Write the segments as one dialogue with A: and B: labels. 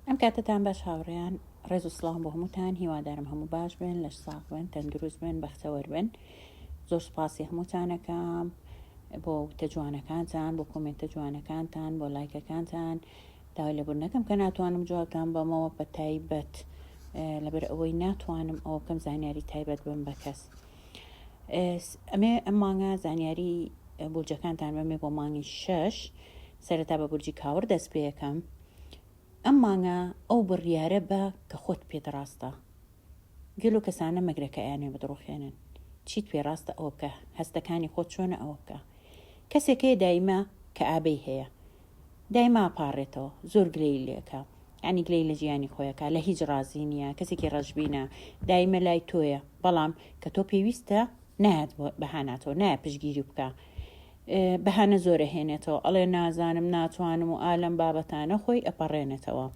A: ئەم کاتتان باش هاوڕێیان ڕێز و سڵام بۆ هەمووتان هیوادارم هەموو باش بن لەش ساق بن تەندروست بن بەختەوەر بن زۆر سپاسی هەمووتانەکەم بۆ وتە جوانەکانتان بۆ کۆمنتە جوانەکانتان بۆ لایکەکانتان داوای لە بردنەکەم کە ناتوانم جوابتان بەمەوە بە تایبەت لەبەر ئەوەی ناتوانم ئەو کەم زانیاری تایبەت بم بە کەس ئەمێ ئەم مانگە زانیاری بورجەکانتان بەمێ بۆ مانگی شەش سەرەتا بە بورجی کاوەڕ دەست پێکەم ئەم مانگە ئەو بڕیارە بە کە خۆت پێت ڕاستە گەلو کەسانە مەگرە کە ئەیانێ بدڕوخێنن چیت پێ ڕاستە ئەوە بکە هەستەکانی خۆت چۆنە ئەوە بکە کەسێک هەیە دایمە کە ئابەی هەیە دایما پاڕێتەوە زۆر گلەی لێکە یعنی گلەی لە ژیانی خۆیەکە لە هیچ ڕازی نییە کەسێکی ڕەشبینە دایمە لای تۆیە بەڵام کە تۆ پێویستە نایەت بەهاناتەوە نایە پشگیری بکە بەهانە زۆر ئەهێنێتەوە ئەڵێ نازانم ناتوانم و ئالەم بابەتانە خۆی ئەپەڕێنێتەوە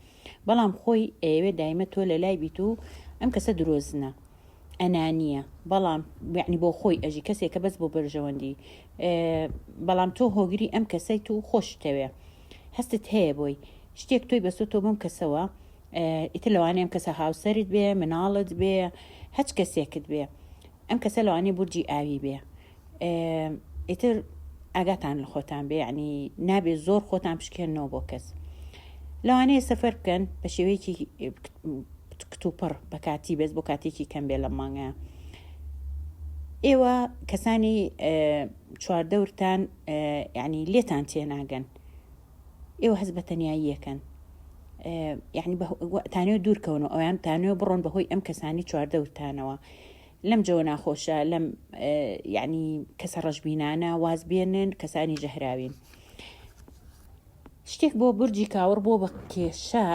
A: بەڵام خۆی ئەیەوێ دایمە تۆ لە لای بیت و ئەم کەسە درۆزنە ئەنانیە بەڵام بعنی بۆ خۆی ئەژی کەسێکە بەس بۆ بەرژەوەندی بەڵام تۆ هۆگری ئەم کەسەیت و خۆشتەوێ هەستت هەیە بۆی شتێک تۆی بەسۆ تۆ بەم کەسەوە ئیتر لەوانەیە ئەم کەسە هاوسەرت بێ مناڵت بێ هەچ کەسێکت بێ ئەم کەسە لەوانەیە بورجی ئاوی بێ ئیتر ئاگاتان لە خۆتان بێ ینی نابێ زۆر خۆتان پشکێنەوە بۆ کەس لەوانەیە سەفەر بکەن بە شێوەیەکی کتوپڕ بە کاتی بەس بۆ کاتێکی کەم بێ لە مانگە ئێوە کەسانی چواردەورتان ینی لێتان تێناگەن ئێوە هەز بە تەنایی یەکەن یعنی تانێ دوورکەونەوە ئەویان تانێ بڕۆن بەهۆی ئەم کەسانی چواردەورتانەوە لەم جەوە ناخۆشە لەم یعنی کەسە ڕەشبینانە واز بێنن کەسانی ژەهراوین شتێک بۆ برجی کاوڕ بۆ بە کێشە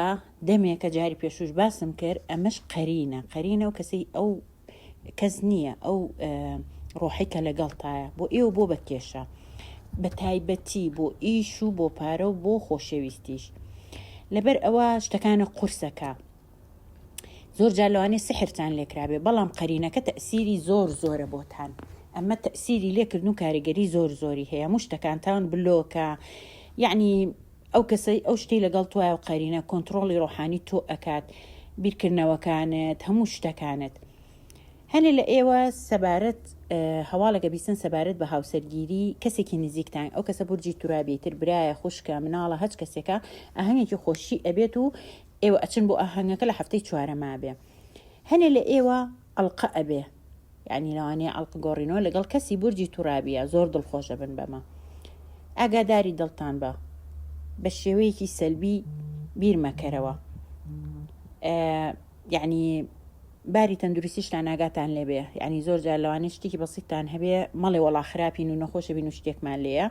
A: دەمێکە جاری پێشوش باسم کرد ئەمەش قەرینە قەرینە و کەسی ئەو کەس نییە ئەو ڕۆحی کە لەگەڵتایە بۆ ئێوە بۆ بە کێشە بە تایبەتی بۆ ئیش و بۆ پارە و بۆ خۆشەویستیش لەبەر ئەوە شتەکانە قورسەکە زۆر جار لەوانێ سحرتان لێکرابێ بەڵام قەرینەکە تەسیری زۆر زۆرە بۆتان ئەمە تەسیری لێکردن و کاریگەری زۆر زۆری هەیە مشتەکانتان بلۆکە یعنی ئەو کەسەی ئەو شتی لەگەڵ توای و قەرینە کۆنتترۆڵی ڕۆحانی تۆ ئەکات بیرکردنەوەکانت هەموو شتەکانت هەنێ لە ئێوە سەبارەت هەواڵەکە بیسن سەبارەت بە هاوسەرگیری کەسێکی نزیکتان ئەو کەسە بورجی تورابێتتر برایە خوشکە مناڵە هەچ کەسێکە ئەهەنێکی خۆشی ئەبێت و ئێوە ئەچن بۆ ئاهەنگەکە لە هەفتەی چوارەما بێ هەنێ لە ئێوە ئەڵقە ئەبێ یعنی لەوانەیە ئەڵق گۆڕینەوە لەگەڵ کەسی بورجی تورابیە زۆر دڵخۆشە بن بەمە ئاگاداری دڵتان بە بە شێوەیەکی سەلبی بیرمەکەرەوە یعنی باری تەندروستیشتان ناگاتان لێبێ ینی زۆر جار لەوانێ شتێکی بەسیتان هەبێ مەڵێ وەڵا خراپین و نەخۆشە بین و شتێکمان لێە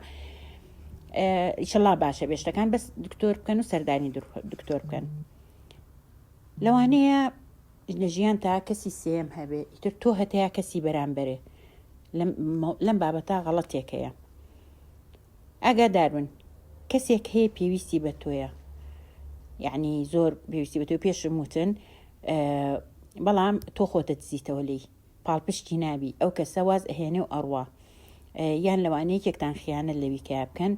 A: ئیشەڵا باشە بێ شتەکان بەس دکتۆر بکەن و سەردانی دکتۆر بکەن لەوانەیە لە ژیان تا کەسی سێم هەبێ ئیتر تۆ هەتەیە کەسی بەرامبەرێ لەم بابەتا غەڵەتێک هەیە ئاگادار بن کەسێک هەیە پێویستی بە تۆیە یعنی زۆر پێویستی بە تۆ پێشم وتن بەڵام تۆ خۆتە دزیتەوە لێی پاڵپشتی نابی ئەو کەسە واز ئەهێنێ و ئەڕوا یان لەوانە یەکێکتان خیانەت لەوی کە بکەن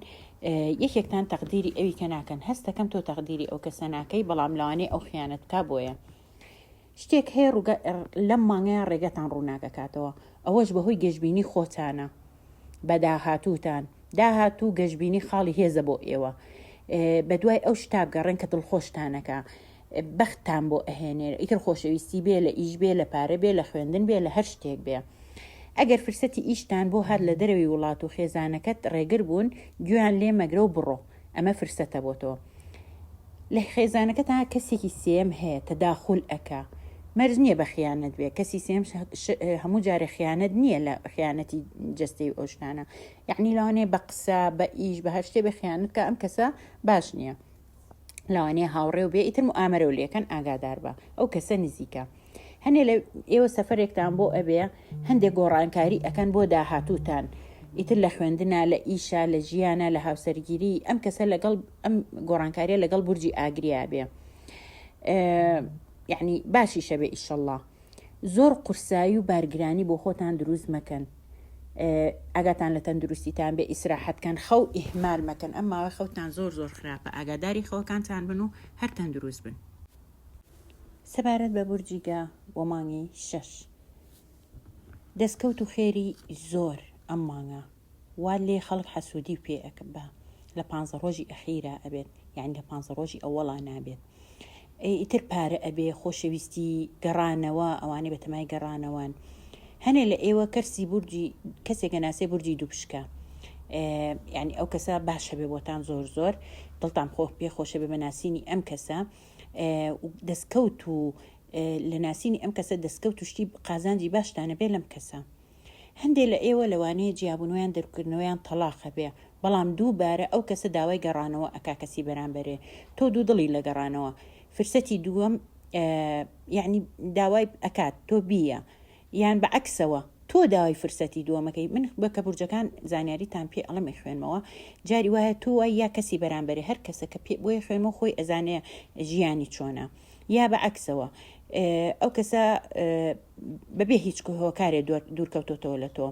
A: یەکێکتان تەقدیری ئەوی کە ناکەن هەستەکەم تۆ تەقدیری ئەو کەسە ناکەی بەڵام لەوانەیە ئەو خیانەت کا بۆیە شتێک هەیە ڕوگە لەم مانگەیە ڕێگەتان ڕووناکەکاتەوە ئەوەش بەهۆی گەشببینی خۆتانە بەداهاتوتان داهاتوو گەشببینی خاڵی هێزە بۆ ئێوە بە دوای ئەو شتابگەڕێن کە دڵخۆشتانەکە بەختتان بۆ ئەهێنێ ئیتر خۆشەویستی بێ لە ئیش بێ لە پارە بێ لە خوێندن بێ لە هەر شتێک بێ ئەگەر فرسەتی ئیشتان بۆ هات لە دەرەوی وڵات و خێزانەکەت ڕێگر بوون گوێیان لێ مەگرە و بڕۆ ئەمە فرسەتە بۆ تۆ لە خێزانەکە تا کەسێکی سێم هەیە تەداخول ئەکا مەرز نییە بە خیانەت بێ کەسی سێم هەموو جارە خیانەت نییە لە خیانەتی جستەی ئۆشتانە یعنی لەوانێ بە قسە بە ئیش بە هەر شتێ بە خیانەت کە ئەم کەسە باش نییە لەوانەیە هاوڕێ و بێ ئیتر و ئامەرە و لەکەن ئاگادار بە ئەو کەسە نزیکە هەنێ لە ئێوە سەفرێکتان بۆ ئەبێ هەندێک گۆڕانکاری ئەەکەن بۆ داهاتوتان ئیتر لە خوێندنا لە ئیشا لە ژیانە لە هاوسەرگیری ئەم کەسە لەگەڵ ئەم گۆڕانکاریە لەگەڵ بورجی ئاگریا بێ یعنی باشی شەبێ ئیشەله زۆر قورسایی و بارگرانی بۆ خۆتان دروست مەکەن ئاگاتان لە تەندروستیتان بێ ئیسراحەت کەن خەو ئیهمال مەکەن ئەم ماوەی خەوتان زۆر زۆر خراپە ئاگاداری خەوەکانتان بن و هەر تەندروست بن سەبارەت بە بورجی گا و مانگی شەش دەستکەوت و خێری زۆر ئەم مانگە وا لێ خەڵک حەسودی و پێ ئەک با لە پانزە ڕۆژی ئەخیرا ئەبێت یعنی لە پانزە ڕۆژی ئەوەڵا نابێت ئەی ئیتر پارە ئەبێ خۆشەویستی گەڕانەوە ئەوانەی بەتەمای گەڕانەوەن هەنێ لە ئێوە کەرسی بورجی کەسێک گەناسێ بورجی دووپشکە یعنی ئەو کەسە باشە بێ بۆتان زۆر زۆر دڵتان خۆ پێ خۆشە بێ بەناسینی ئەم کەسە دەستکەوت و لە ناسینی ئەم کەسە دەستکەوت و شتی قازانجی باشتانە بێ لەم کەسە هەندێ لە ئێوە لەوانەیە جیابونویان دەرکردنەوەیان تەڵاقە بێ بەڵام دوو بارە ئەو کەسە داوای گەڕانەوە ئەکا کەسی بەرامبەرێ تۆ دوو دڵی لە گەڕانەوە فرسەتی دووەم یعنی داوای ئەکات تۆ بیە یان بە عکسەوە تۆ داوای فرسەتی دووەمەکەی من بە کە بورجەکان زانیاری تان پێ ئەڵمی خوێنمەوە جاری وایە تۆ وای یا کەسی بەرامبەری هەر کەسە کە پێ بۆی خوێنمە خۆی ئەزانێ ژیانی چۆنە یا بە عکسەوە ئەو کەسە بەبێ هیچ هۆکارێ دوورکەوتۆتەوە لە تۆ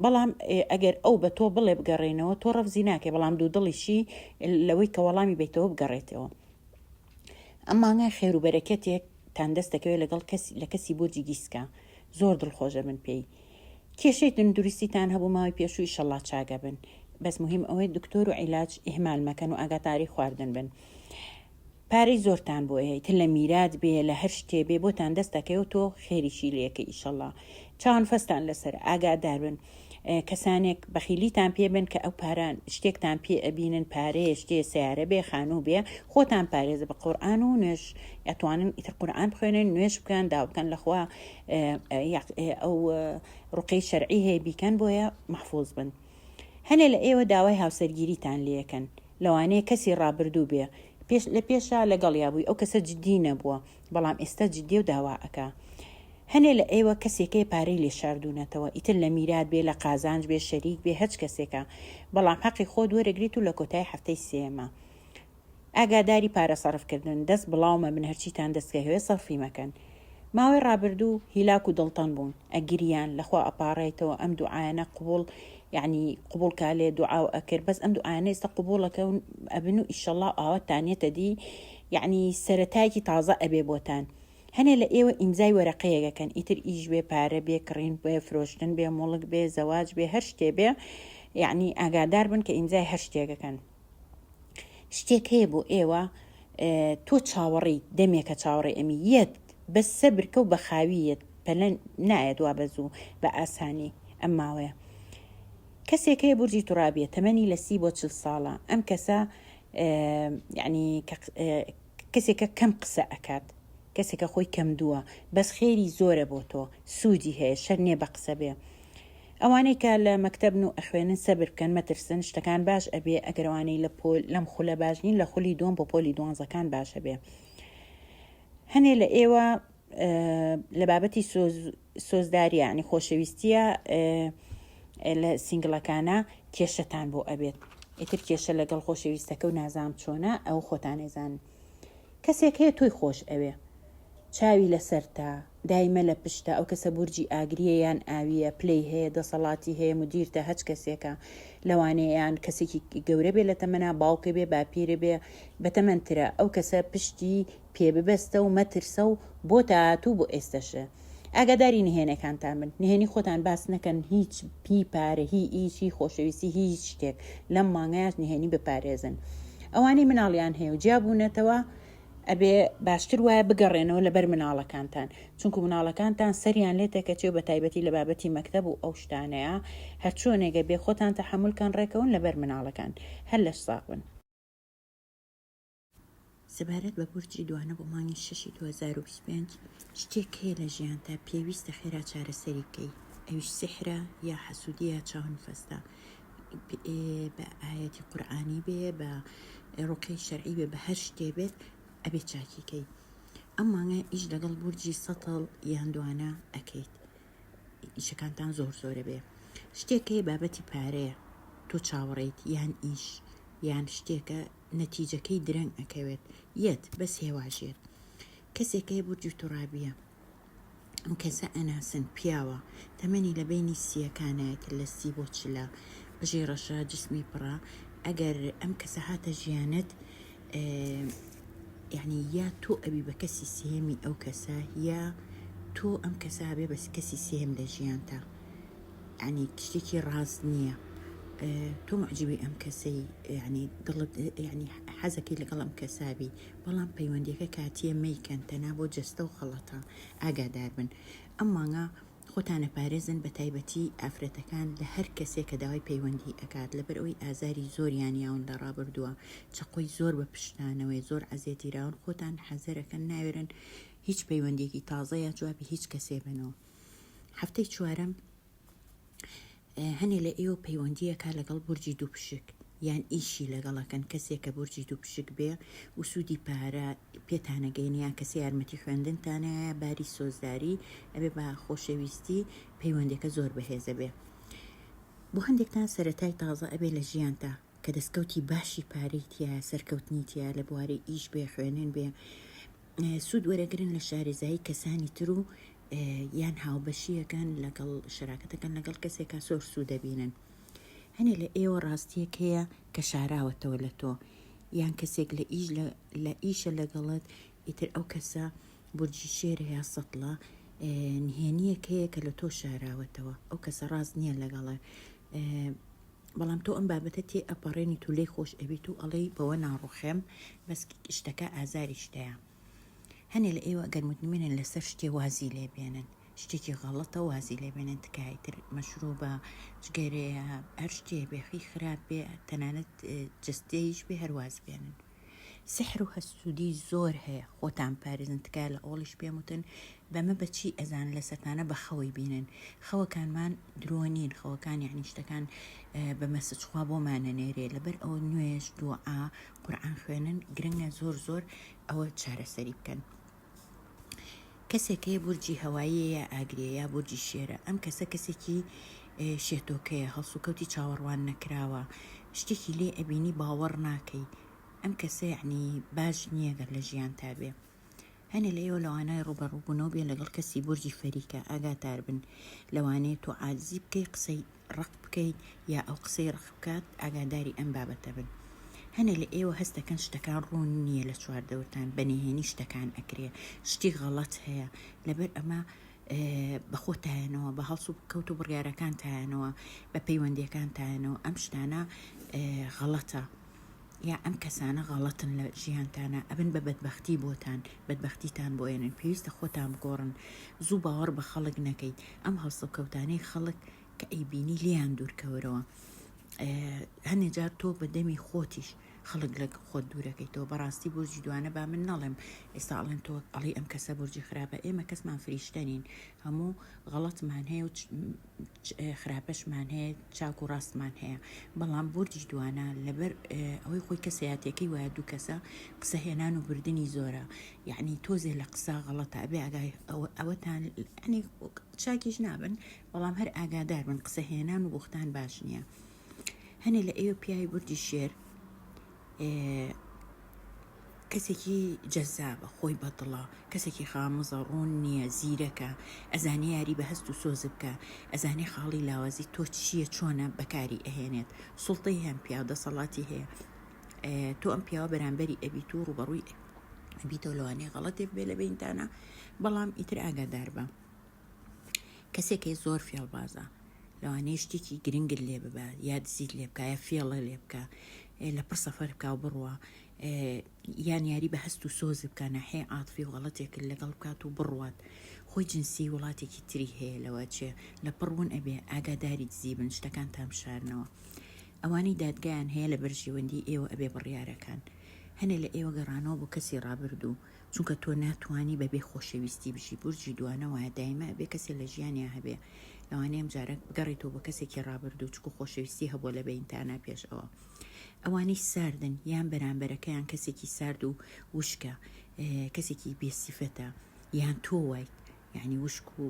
A: بەڵام ئەگەر ئەو بە تۆ بڵێ بگەڕێنەوە تۆ ڕەفزی ناکەی بەڵام دوو دڵیشی لەوەی کە وەڵامی بیتەوە بگەڕێتەوە ئەمانگای خێروبەرەکەتێک تان دەست دەکەوێت لەگەڵ کەسی لە کەسی بۆرجی گیسکە زۆر دڵخۆشە من پێی کێشەی تەندروستیتان هەبوو ماوەی پێشووی شەڵا چاگە بن بەس مهم ئەوەی دکتۆر و عیلاج ئهمال مەکەن و ئاگاتاری خواردن بن پارەی زۆرتان بۆ هەیە تە لە میرات بێ لە هەر شتێ بێ بۆتان دەست دەکەوێ تۆ خێریشی لێ کە ئیشەڵا چاوان فەستان لەسەرە ئاگادار بن کەسانێک بەخیلیتان پێ بن کە ئەو پارە شتێکتان پێ ئەبینن پارەیە شتێ سیارە بێ خانوو بێ خۆتان پارێزە بە قورآان و نوێش ئەتوانن ئیتر قورآان بخوێنن نوێش بکەن دا بکەن لەخوا ئەو ڕقی شەرعی هەیە بیکەن بۆیە محفوظ بن هەنێ لە ئێوە داوای هاوسەرگیریتان لەکەن لەوانەیە کەسی ڕابردوو بێ پێش لە پێشا لەگەڵیا بووی ئەو کەسە جدی نەبووە بەڵام ئێستا جدیە و داوا ئەکا هەنێ لە ئێوە کەسێکەیە پارەی لێ شاردوونەتەوە ئیتر لە میرات بێ لە قازانج بێ شەریک بێ هەچ کەسێکە بەڵام حەقی خۆت وەرەگریت و لە کۆتایی هەفتەی سێیەما ئاگاداری پارە سەرف کردن دەست بڵاو مەبن هەرچیتان دەست کە هەوێ سەرفی مەکەن ماوەی ڕابردوو هیلاک و دڵتەنگ بوون ئەگریان لەخوا ئەپاڕێیتەوە ئەم دوعایانە قبوڵ یعنی قبول کا لێ دوعا و ئەکرد بەس ئەم دوعایانە ئێستا قبولەکە و ئەبن و ئیشەڵا ئاوات تانێتە دی یعنی سەرەتایەکی تازە ئەبێ بۆتان هەنێ لە ئێوە ئیمزای وەرەقەیەکەکەن ئیتر ئیش بێ پارە بێ کڕین بێ فرۆشتن بێ موڵک بێ زەواج بێ هەر شتێ بێ یعنی ئاگادار بن کە ئیمزای هەر شتێکەکەن شتێک هەیە بۆ ئێوە تۆ چاوەڕی دەمێکە چاوەڕێ ئەمی یەت بە سەبرکە و بەخاویەت پەلەن نایەت وا بەزوو بە ئاسانی ئەم ماوەیە کەسێک هەیە بورجی تورابیە تەمەنی لە سی بۆ چل ساڵە ئەم کەسە یعنی کەسێکە کەم قسە ئەکات کەسێکە خۆی کەم دووە بەس خێری زۆرە بۆ تۆ سوودی هەیە شەر نیە بە قسە بێ ئەوانەی کە لە مەکتەبن و ئەخوێنن سەبر بکەن مەترسن شتەکان باش ئەبێ ئەگەر ئەوانەی لە پۆل لەم خولە باش نین لە خولی دووەم بۆ پۆلی دوانزەکان باش ئەبێ هەنێ لە ئێوە لە بابەتی سۆز سۆزداریە یعنی خۆشەویستیە لە سینگلەکانە کێشەتان بۆ ئەبێت ئیتر کێشە لەگەڵ خۆشەویستەکە و نازام چۆنە ئەو خۆتانێزان کەسێک هەیە تۆی خۆش ئەوێ چاوی لەسەرتە دایمە لە پشتە ئەو کەسە بورجی ئاگریە یان ئاویە پلەی هەیە دەسەڵاتی هەیە مدیرتە هەچ کەسێکە لەوانەیە یان کەسێکی گەورە بێ لە تەمەنا باوکە بێ باپیرە بێ بەتەمەنترە ئەو کەسە پشتی پێ ببەستە و مەترسە و بۆ تاهاتوو بۆ ئێستەشە ئاگاداری نهێنەکانتان بن نهێنی خۆتان باس نەکەن هیچ پی پارە هی ئیچ هی خۆشەویستی هیچ شتێک لەم مانگایش نهێنی بپارێزن ئەوانەی مناڵیان هەیە و جیابوونەتەوە ئەبێ باشتر وایە بگەڕێنەوە لەبەر مناڵەکانتان چونکو مناڵەکانتان سەریان لێ تەکەچێ و بە تایبەتی لە بابەتی مەکتەب و ئەو شتانەیە هەرچۆنێگە بێ خۆتان تەحملکان ڕێکەون لەبەر مناڵەکان هەر لەش ساغ بن سەبارەت بە بورجی دوانە بۆ مانگی شەشی دوو هەزار و بیست و پێنج شتێک هەیە لە ژیانتا پێویستە خێرا چارەسەری بکەی ئەویش سیحرە یا حەسودیە چاون فەستە بە ئاەتی قورآانی بێ بە ڕوقی شەرعی بێ بە هەر شتێ بێت ئەبێ چاکیکەی ئەم مانگە ئیش لەگەڵ بورجی سەتەڵ یان دوانە ئەکەیت ئیشەکانتان زۆر زۆرە بێ شتێکەیە بابەتی پارەیە تۆ چاوەڕیت یان ئیش یان شتێکە نەتیجەکەی درەنگ ئەکەوێت یەت بەس هێواژێر کەسێک هەیە بورجی تورابیە ئەم کەسە ئەناسن پیاوە تەمەنی لە بینی سیەکانایەت لە سی بۆ چلە قژی ڕەشە جسمی پڕە ئەگەر ئەم کەسە هاتە ژیانت یعنی یا تۆ ئەبی بە کەسی سێمی ئەو کەسە یا تۆ ئەم کەسە هەبێ بەس کەسی سێم لە ژیانتە یعنی تشتێکی ڕاست نییە تۆ معجبی ئەم کەسەی یعنی دڵت یعنی حەزەکەی لەگەڵ ئەم کەسابی بەڵام پەیوەندیەکە کاتیە مەیکەن تەنا بۆ جەستە و خەڵەتە ئاگادار بن ئەم مانگە خۆتانە پارێزن بە تایبەتی ئافرەتەکان لە هەر کەسێک کە داوای پەیوەندی ئەکات لەبەر ئەوی ئازاری زۆریان یاون لە ڕابردووە چقۆی زۆر بە پشتانەوەی زۆر عزیێتیراون خۆتان حەزەرەکەن ناوێرن هیچ پەیوەندێکی تازەیە جوابی هیچ کەسێ بنەوە هەفتەی چوارەم هەنێ لە ئێوە پەیوەندیەکە لەگەڵ بورجی دوو پشک یان ئیشی لەگەڵەکەن کەسێک کە بورجی دوو پشک بێ و سوودی پارە پێتانەگەینیان کەسی یارمەتی خوێندنتانە باری سۆزداری ئەبێ بە خۆشەویستی پەیوەندەکە زۆر بەهێزە بێ بۆ هەندێکتان سەتای تازە ئەبێ لە ژیانتا کە دەستکەوتی باشی پارەی تیا سەرکەوتنی تیا لە بواری ئیش بێ خوێنن بێ سوود وەرەگرن لە شارێزایی کەسانی تر و یان هاوبەشیەکەن لەگەڵ شراکەتەکەن لەگەڵ کەسێکا سۆر سوود دەبینن هەنێ لە ئێوە ڕاستیەک هەیە کە شاراوەتەوە لە تۆ یان کەسێک لە ئیش لە ئیشە لەگەڵت ئیتر ئەو کەسە بورجی شێر هەیە سەڵە نهێنیەک هەیە کە لە تۆ شاراوەتەوە ئەو کەسە ڕاست نییە لەگەڵێ بەڵام تۆ ئەم بابەتە تێ ئەپەڕێنیت و لێی خۆش ئەبیت و ئەڵێی بەوە ناڕوخێم بەس شتەکە ئازاریش دەیە هەنێ لە ئێوە گەر متمنن لەسەر شتێ وازی لێ بێنن شتێکی غەڵەتە وازی لێ بێنن تکایە تر مەشروبە جگەرەیە هەر شتێ بێخی خراپ بێ تەنانەت جستەیش بێ هەرواز بێنن سحر و هەسوودی زۆر هەیە خۆتان پارێزن تکایە لە ئەوڵیش پێم وتن بەمە بەچی ئەزان لە سەتانە بە خەوەی بینن خەوەکانمان درۆ نین خەوەکان یعنی شتەکان بە مەسجخوا بۆمانە نێرێ لەبەر ئەوە نوێش دوعا قورآن خوێنن گرنگە زۆر زۆر ئەوە چارەسەری بکەن. کەسێک هەیە بورجی هەواییە یا ئاگرێ یا بورجی شێرە ئەم کەسە کەسێکی شێتۆکەیە هەڵسوکەوتی چاوەڕوان نەکراوە شتێکی لێ ئەبینی باوەڕ ناکەی ئەم کەسە یعنی باش نییە گەر لە ژیان تا بێ هەنێ لە ئێوە لەوانای ڕوبەڕووبوونەوە بێ لەگەڵ کەسی بورجی فەریکە ئاگاتار بن لەوانەیە تۆ عادزی بکەی قسەی ڕق بکەیت یا ئەو قسەی ڕق بکات ئاگاداری ئەم بابەتە بن هەنێ لە ئێوە هەستەکەن شتەکان ڕوون نییە لە چواردەورتان بەنهێنی شتەکان ئەکرێ شتی غەڵەت هەیە لەبەر ئەمە بەخۆتایەنەوە بە هەڵس و کەوت و بڕیارەکان تایەنەوە بە پەیوەندیەکان تایەنەوە ئەم شتانە غەڵەتە یا ئەم کەسانە غەڵەتن لە ژیانتانا ئەبن بە بەدبەختی بۆتان بەدبەختیتان بۆ ئێنن پێویستە خۆتان بگۆڕن زوو باوەڕ بە خەڵک نەکەیت ئەم هەڵسوکەوتانەی خەڵک کە ئەیبینی لیان دوورکەوەرەوە هەنێ جار تۆ بە دەمی خۆتیش خەڵک لە خۆت دوورەکەیتەوە بەڕاستی بورجی دوانە با من نەڵێم ئێستا ئەڵێن تۆ ئەڵی ئەم کەسە بورجی خراپە ئێمە کەسمان فریشتەنین هەموو غەڵەتمان هەیە و خراپەشمان هەیە چاک و ڕاستمان هەیە بەڵام بردی دوانە لەبەر ئەوەی خۆی کەسەیاتەکەی وایە دوو کەسە قسە هێنان و بردننی زۆرە یعنی تۆزێ لە قسە غەڵەتە ئەبێ ئاگای ئەوەتان ئەنی چاکیش نابن بەڵام هەر ئاگادار من قسە هێنان و بختان باش نییە هەنێ لە ئێوە پیاوی بردی شێر کەسێکی جەزابە خۆی بەدڵە کەسێکی خامزە ڕوون نییە زیرەکە ئەزانێ یاری بە هەست و سۆز بکە ئەزانێ خاڵی لاوازی تۆ چییە چۆنە بەکاری ئەهێنێت سوڵتەی هەم پیاو دەسەڵاتی هەیە تۆ ئەم پیاوە بەرامبەری ئەبیت و ڕوبەڕووی ئەبیتەوە لەوانەیە غەڵەتێک بێ لە بینتانە بەڵام ئیتر ئاگادار بە کەسێکی زۆر فێڵبازە لەوانەیە شتێکی گرنگت لێ ببە یا دزیت لێ بکە یا فێڵە لێ بکە لە پڕ سەفەر بکە و بڕوە یان یاری بە هەست و سۆز بکە ناحێ ئاتفی و غەڵەتێکرد لەگەڵ بکات و بڕوات خۆی جنسی وڵاتێکی تری هەیە لەوە چێ لە پڕون ئەبێ ئاگاداری دزی بن شتەکان تام شارنەوە ئەوانی دادگایان هەیە لە بەرژێوەندی ئێوە ئەبێ بڕیارەکان هەنێ لە ئێوە گەڕانەوە بۆ کەسی ڕابردوو چونکە تۆ ناتوانی بەبێ خۆشەویستی بژی بورجی دوانە وایە دایمە ئەبێ کەسێ لە ژیانیا هەبێ لەوانەیە ئەمجارە بگەڕێتەوە بە کەسێکی ڕابردوو چکو خۆشەویستی هەبووە لە بەینتانا پێش ئەوە ئەوانەی ساردن یان بەرامبەرەکەیان کەسێکی سارد و وشکە کەسێکی بێسیفەتە یان تۆ وایت یانی وشک و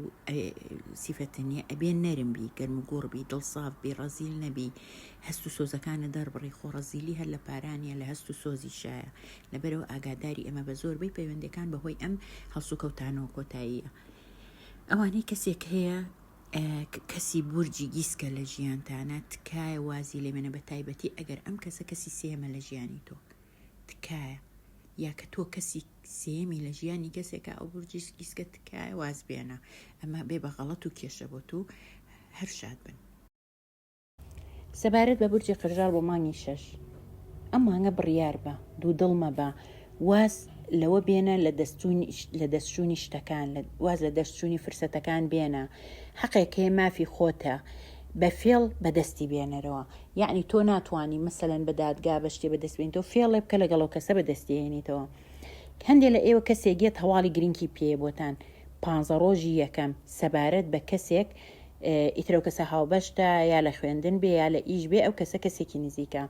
A: سیفەتە نیە ئەبێ نەرم بی گەرم و گوڕ بی دڵ ساف بی ڕەزیل نەبی هەست و سۆزەکانە دەربڕی خۆ ڕەزیلی هەر لە پارانە لە هەست و سۆزی شایە لەبەرەوە ئاگاداری ئەمە بە زۆربەی پەیوەندەکان بەهۆی ئەم هەڵسوکەوتانەوە کۆتاییە ئەوانەی کەسێک هەیە کەسی بورجی گیسکە لە ژیانتانە تکایە وازی لێمێنە بە تایبەتی ئەگەر ئەم کەسە کەسی سێمە لە ژیانی تۆ تکایە یا کە تۆ کەسی سێمی لە ژیانی کەسێکە ئەو بورجی سکیسکە تکایە واز بێنە ئەمە بێ بە غەڵەت و کێشە بۆ تو هەر شاد بن سەبارەت بە بورجی قرژاڵ بۆ مانگی شەش ئەم مانگە بڕیار بە دوو دڵ مەبە واز لەوە بێنە لە دەستچوونی لە دەستچوونی شتەکان لە واز لە دەستچوونی فرسەتەکان بێنە حەقێک هەیە مافی خۆتە بە فێڵ بەدەستی بێنەرەوە یەعنی تۆ ناتوانی مەسەلەن بە دادگا بە شتێ بەدەست بێنیتەوە فێڵێ بکە لەگەڵ ئەو کەسە بەدەستی هێنیتەوە هەندێک لە ئێوە کەسێک یەت هەواڵی گرنکی پێیە بۆتان پانزە ڕۆژی یەکەم سەبارەت بە کەسێک ئیتر ئەو کەسە هاوبەشتە یا لە خوێندن بێ یا لە ئیش بێ ئەو کەسە کەسێکی نزیکە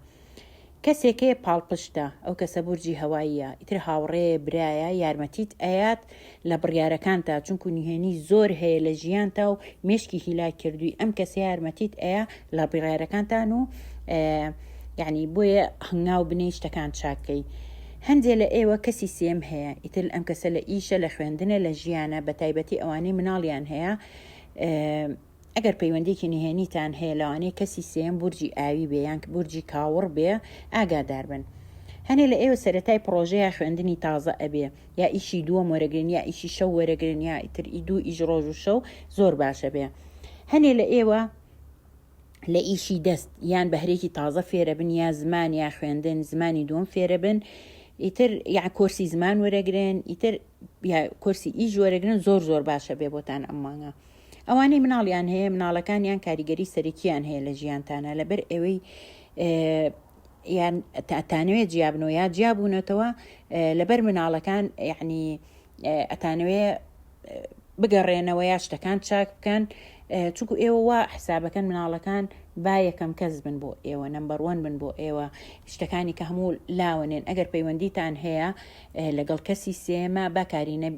A: کەسێکەیە پاڵپشتە ئەو کەسە بورجی هەواییە ئیتر هاوڕێ برایە یارمەتیت ئەیات لە بڕیارەکانتا چونکو نهێنی زۆر هەیە لە ژیانتا و مێشکی هیلاک کردوی ئەم کەسە یارمەتیت ئەیا لە بڕیارەکانتان و یعنی بۆیە هەنگاو بنێی شتەکان چاکەی هەندێ لە ئێوە کەسی سێم هەیە ئیتر ئەم کەسە لە ئیشە لە خوێندنە لە ژیانە بە تایبەتی ئەوانەی مناڵیان هەیە ئەگەر پەیوەندیەکی نهێنیتان هەیە لەوانەیە کەسی سێیەم بورجی ئاوی بێ یان بورجی کاوڕ بێ ئاگادار بن هەنێ لە ئێوە سەرەتای پڕۆژەیە خوێندنی تازە ئەبێ یا ئیشی دووەم وەرەگرن یا ئیشی شەو وەرەگرن یا ئیتر ئی دوو ئیش ڕۆژ و شەو زۆر باشە بێ هەنێ لە ئێوە لە ئیشی دەست یان بەهرێکی تازە فێرە بن یا زمان یا خوێندن زمانی دووەم فێرە بن ئیتر یا کۆرسی زمان وەرەگرن ئیتر کۆرسی ئیش وەرەگرن زۆر زۆر باشە بێ بۆتان ئەم مانگە ئەوانەی مناڵیان هەیە مناڵەکانیان کاریگەری سەرەکییان هەیە لە ژیانتانە لەبەر ئەوەی یان تاتانەوێت جیابنەوە یا جیابوونەتەوە لەبەر مناڵەکان یعنی ئەتانەوێ بگەڕێنەوە یا شتەکان چاک بکەن چونکو ئێوە وا حسابەکەن مناڵەکان با یەکەم کەس بن بۆ ئێوە نمبەڕوەن بن بۆ ئێوە شتەکانی کە هەموو لاوەنێن ئەگەر پەیوەندیتان هەیە لەگەڵ کەسی سێیەما با کارینە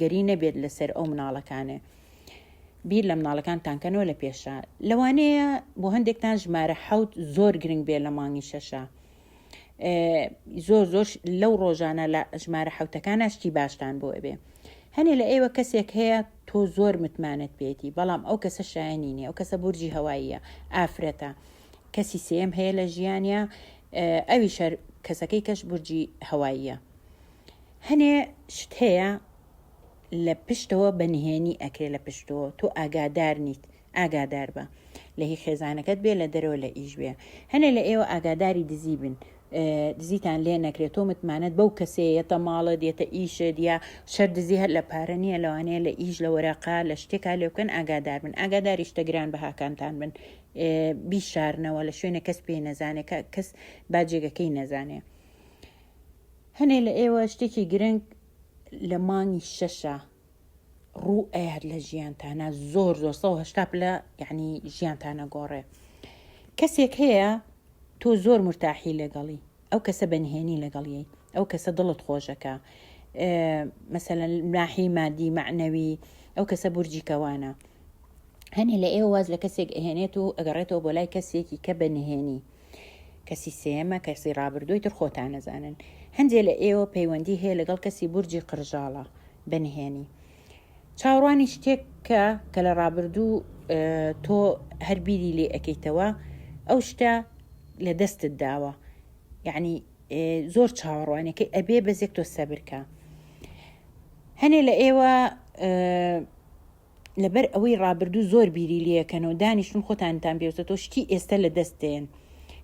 A: گەری نەبێت لەسەر ئەو مناڵەکانێ بیر لە مناڵەکانتان کەنەوە لە پێشە لەوانەیە بۆ هەندێکتان ژمارە حەوت زۆر گرنگ بێ لە مانگی شەشە زۆر زۆر لەو ڕۆژانە لە ژمارە حوتەکان شتی باشتان بۆ ئەبێ هەنێ لە ئێوە کەسێک هەیە تۆ زۆر متمانەت پێێتی بەڵام ئەو کەسە شایانی نیە ئەو کەسە بورجی هەواییە ئافرەتە کەسی سێم هەیە لە ژیانە ئەوی شەر کەسەکەی کەش بورجی هەواییە هەنێ شت هەیە لە پشتەوە بە نهێنی ئەکرێ لە پشتەوە تۆ ئاگادار نیت ئاگادار بە لە هی خێزانەکەت بێ لە دەرەوە لە ئیش بێ هەنێ لە ئێوە ئاگاداری دزی بن دزیتان لێ نەکرێت تۆ متمانەت بەو کەسەیەتە ماڵە دێتە ئیشە دیا شەر دزی هەر لە پارە نییە لەوانەیە لە ئیش لە وەراقا لە شتێکا لێ بکەن ئاگادار بن ئاگاداری شتە گران بەهاکانتان بن بیشارنەوە لە شوێنە کەس پێی نەزانێ کە کەس با جێگەکەی نەزانێ هەنێ لە ئێوە شتێکی گرنگ لە مانگی شەشە ڕوو ئەیات لە ژیانتانە زۆر زۆر سە هشتا پلە یعنی ژیانتانە گۆڕێ کەسێک هەیە تۆ زۆر مرتاحی لەگەڵی ئەو کەسە بەنهێنی لەگەڵیی ئەو کەسە دڵت خۆشەکە مەسەەن ناحی مادی معنەوی ئەو کەسە بورجی کەوانە هەنێ لە ئێوە واز لە کەسێک ئەهێنێت و ئەگەڕێتەوە بۆ لای کەسێکی کە بە نهێنی کەسی سێمە کەسی ڕابردووی تر خۆتان نەزانن هەندێ لە ئێوە پەیوەندی هەیە لەگەڵ کەسی بورجی قرژاڵە بەنهێنی چاوڕوانی شتێک بکە کە لە ڕابردوو تۆ هەر بیری لێ ئەکەیتەوە ئەو شتە لە دەستت داوە یعنی زۆر چاوەڕوانەکەی ئەبێ بەزێک تۆ سەبرکە هەنێ لە ئێوە لەبەر ئەوەی ڕابردوو زۆر بیری لەکەن و دانیشتون خۆتانتان پێوسە تۆ شتی ئێستا لە دەستێن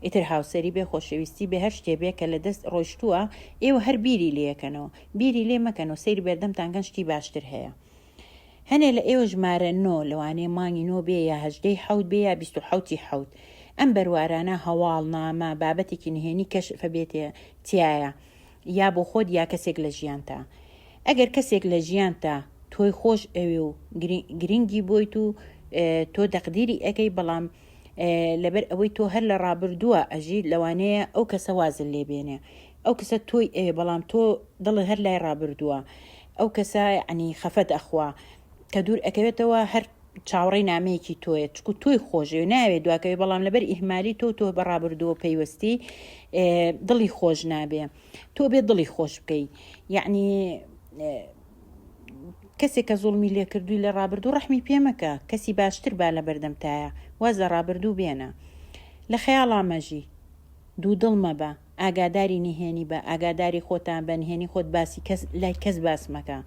A: ئیتر هاوسری بێ خۆشەویستی بێ هەر شتێ بێ کە لە دەست ڕۆشتووە ئێوە هەر بیری لەکەنەوە بیری لێ مەکەن و سەیری بەردەمتان کەن شتی باشتر هەیە هەنێ لە ئێوە ژمارە نۆ لەوانەیە مانگی نۆ بێ یا هەژدەی حەوت بێ یا بیست و حەوتی حەوت ئەم بەروارانە هەواڵ نامە بابەتێکی نهێنی کەشفە بێتێ تیایە یا بۆ خۆت یا کەسێک لە ژیانتا ئەگەر کەسێک لە ژیانتا تۆی خۆش ئەوێ و گرنگی بۆیت و تۆ دەقدیری ئەەکەی بەڵام لەبەر ئەوەی تۆ هەر لە ڕابردووە ئەژیت لەوانەیە ئەو کەسە وازل لێبێنێ ئەو کەسە تۆی ئەوێ بەڵام تۆ دڵت هەر لای ڕابردووە ئەو کەسە عنی خەفەت ئەخوا کە دوور ئەکەوێتەوە هەر چاوەڕێی نامەیەکی تۆیە چکو تۆی خۆشەوێ ناوێ دواکەوێ بەڵام لەبەر ئیهمالی تۆ تۆ بە ڕابردووە پەیوەستی دڵی خۆش نابێ تۆ بێ دڵی خۆش بکەی یعنی کەسێک کە زوڵمی لێکردووی لە ڕابردوو ڕحمی پێمەکە کەسی باشتر با لە بەردەمتایە واز لە ڕابردوو بێنە لە خەیاڵامەژی دوو دڵ مەبە ئاگاداری نهێنی بە، ئاگاداری خۆتان بە، نهێنی خۆت باسی کەس لای کەس باس مەکە.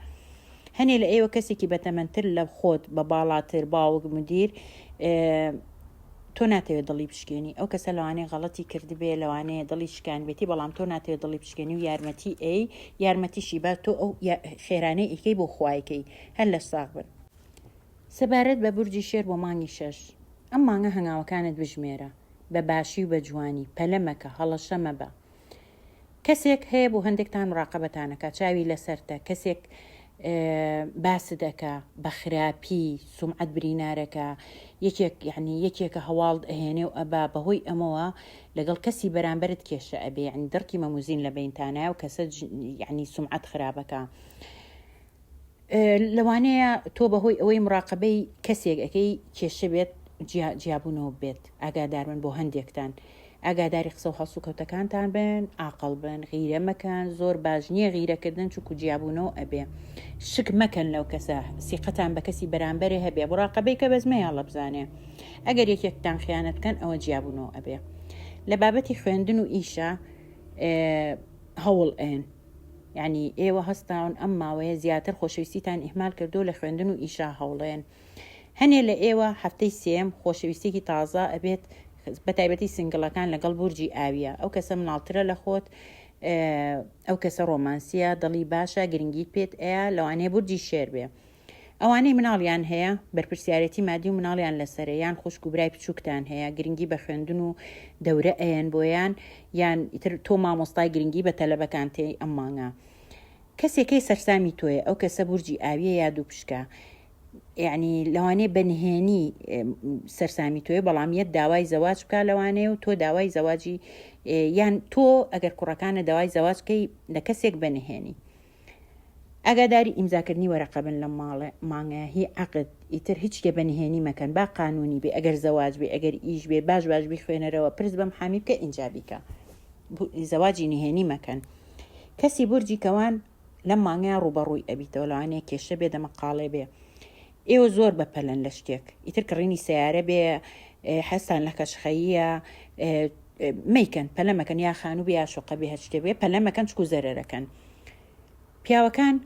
A: هەنێ لە ئێوە کەسێکی بەتەمەنتر لە خۆت، بە باڵاتر، باوک، مدیر، تۆ ناتەوێ دڵی بشکێنی. ئەو کەسە لەوانەیە غەڵەتی کردبێ، لەوانەیە دڵی شکانبێتی، بەڵام تۆ ناتەوێ دڵی بشکێنی و یارمەتی ئەی، یارمەتیشی با تۆ ئەو خێرانەی ئەیکەی بۆ خوا ئەیکەی. هەر لەش ساغ بن. سەبارەت بە بورجی شێر بۆ مانگی شەش، ئەم مانگە هەنگاوەکانت بژمێرە. بە باشی و بە جوانی پەلە مەکە هەڵەشە مەبە کەسێک هەیە بۆ هەندێکتان مراقبەتانەکە چاوی لەسەرتە کەسێک باست ئەکا بە خراپی سومعەت برینارەکە یەکێک یعنی یەکێکە هەواڵت ئەهێنێ و ئەبا بەهۆی ئەمەوە لەگەڵ کەسی بەرامبرت کێشە ئەبێ عنی دڕکی مەموزین لە بینتانە و کەسە یعنی سومعەت خراپەکە لەوانەیە تۆ بەهۆی ئەوەی مڕاقەبەی کەسێک ئەکەی کێشە بێت جیابوونەوە بێت ئاگاداربن بۆ هەندێکتان ئاگاداری قسە و هەڵسوکەوتەکانتان بن ئاقل بن غیرە مەکەن زۆر باش نییە غیرەکردن چکو جیابوونەوە ئەبێ شک مەکەن لەو کەسە سیقەتان بە کەسی بەرامبەرێ هەبێ بڕاقەبەی کە بەزمەیان لە بزانێ ئەگەر یەکێکتان خیانەت بکەن ئەوە جیابوونەوە ئەبێ لە بابەتی خوێندن و ئیشە هەوڵ ئەن یانی ئێوە هەستاون ئەم ماوەیە زیاتر خۆشەویستیتان ئیهمال کردووە لە خوێندن و ئیشا هەوڵێن هەنێ لە ئێوە هەفتەی سێم خۆشەویستێکی تازە ئەبێت بە تایبەتی سنگڵەکان لەگەڵ بورجی ئاویە ئەو کەسە مناڵترە لە خۆت ئەو کەسە ڕۆمانسیە دڵی باشە گرنگیت پێت ئەیە لەوانەیە بورجی شێر بێ ئەوانەی مناڵیان هەیە، بەرپرسیارێتی مادی و مناڵیان لەسەرە، یان خوشک و برای بچوکتان هەیە، گرنگی بە خوێندن و دەورە ئەیەن بۆیان، یان ئیتر تۆ مامۆستای گرنگی بە تەلەبەکانت ئەی ئەم مانگە کەسێ کەی سەرسامی تۆیە ئەو کەسە بورجی ئاویە یا دووپشکە یعنی لەوانەیە بە نهێنی سەرسامی تۆی بەڵام یەت داوای زەواج بکە لەوانەیە و تۆ داوای زەواجی یان تۆ ئەگەر کوڕەکانە داوای زەواجکەی لە کەسێک بەنهێنی ئاگاداری ئیمزاکردنی وەرەقە بن لە ماڵ مانگە هی عەقد ئیتر هیچ کێ بە نهێنی مەکەن با قانونی بێ ئەگەر زەواج بێ ئەگەر ئیش بێ باش باش بیخوێنەرەوە پرس بە محامی بکە ئینجا بیکە زەواجی نهێنی مەکەن کەسی بورجی کەوان لەم مانگەیان ڕووبەڕووی ئەبیتەوە لەوانەیە کێشە بێ دەمەقاڵێ بێ ئێوە زۆر بەپەلەن لە شتێک ئیتر کڕینی سەیارە بێ حەزتان لە کەشخەییە مەیکەن پەلە مەکەن یا خانوو بێ یا شوقە بێ هەر شتێ بێ پەلە مەکەن چکو زەرەرەکەن پیاوەکان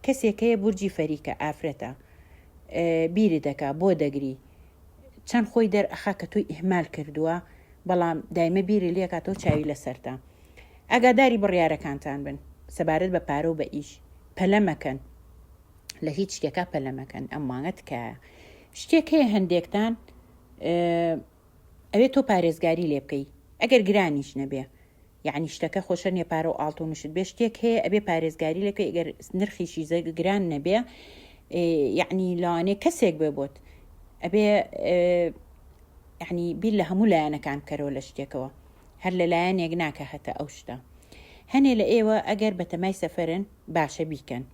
A: کەسێکەیە بورجی فەریکە ئافرەتە بیری دەکا بۆ دەگری چەند خۆی دەرئەخا کە تۆی ئیهمال کردووە بەڵام دایمە بیری لێکاتەوە چاوی لەسەرتا ئەگاداری بڕیارەکانتان بن سەبارەت بە پارە و بە ئیش پەلە مەکەن لە هیچ شتێکا پەلەمەکەن ئەم مانگە تکایە شتێک هەیە هەندێکتان ئەوێ تۆ پارێزگاری لێ بکەی ئەگەر گرانیش نەبێ یعنی شتەکە خۆشە نێپارە و ئاڵتونشت بێ شتێک هەیە ئەبێ پارێزگاری لەکە ئەگەر نرخیشی زە گران نەبێ یعنی لەوانێ کەسێک بێ بۆت ئەبێ یعنی بیر لە هەموو لایەنەکان بکەرەوە لە شتێکەوە هەر لە لایەنێک ناکە هەتە ئەو شتە هەنێ لە ئێوە ئەگەر بەتەمای سەفرن باشە بیکەن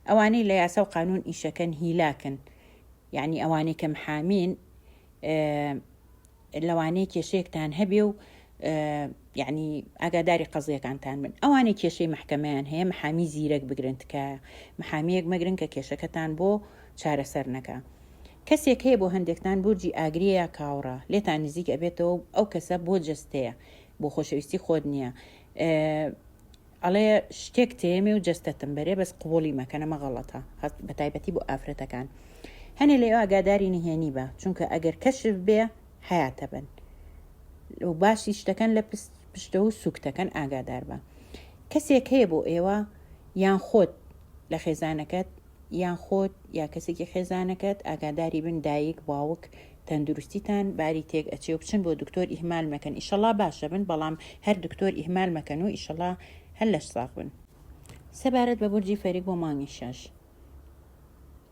A: ئەوانەی لە یاسا و قانون ئیشەکەن هیلاکن یعنی ئەوانەی کە محامین لەوانەیە کێشەیەکتان هەبێ و یعنی ئاگاداری قەزیەکانتان من ئەوانەی کێشەی محکەمەیان هەیە محامی زیرەک بگرن تکایە محامیەک مەگرن کە کێشەکەتان بۆ چارەسەر نەکە کەسێک هەیە بۆ هەندێکتان بورجی ئاگریە یا کاوڕە لێتان نزیک ئەبێتەوە ئەو کەسە بۆ جستەیە بۆ خۆشەویستی خۆت نییە ئەڵێ شتێک تێمێ و جەستەتم بەرێ بەس قبوڵی مەکە نەمە غەڵەتە هەست بە تایبەتی بۆ ئافرەتەکان هەنێ لە ئێوە ئاگاداری نهێنی بە چونکە ئەگەر کەشف بێ حیاتە بن و باسی شتەکان لە پشتە و سوکتەکەن ئاگادار بە کەسێک هەیە بۆ ئێوە یان خۆت لە خێزانەکەت یان خۆت یا کەسێکی خێزانەکەت ئاگاداری بن دایک باوک تەندروستیتان باری تێک ئەچێ و بچن بۆ دکتۆر ئیهمال مەکەن ئیشەڵا باشە بن بەڵام هەر دکتۆر ئیهمال مەکەن و ئیشەڵا هەر لەش ساغ بن سەبارەت بە بورجی فەریک بۆ مانگی شەش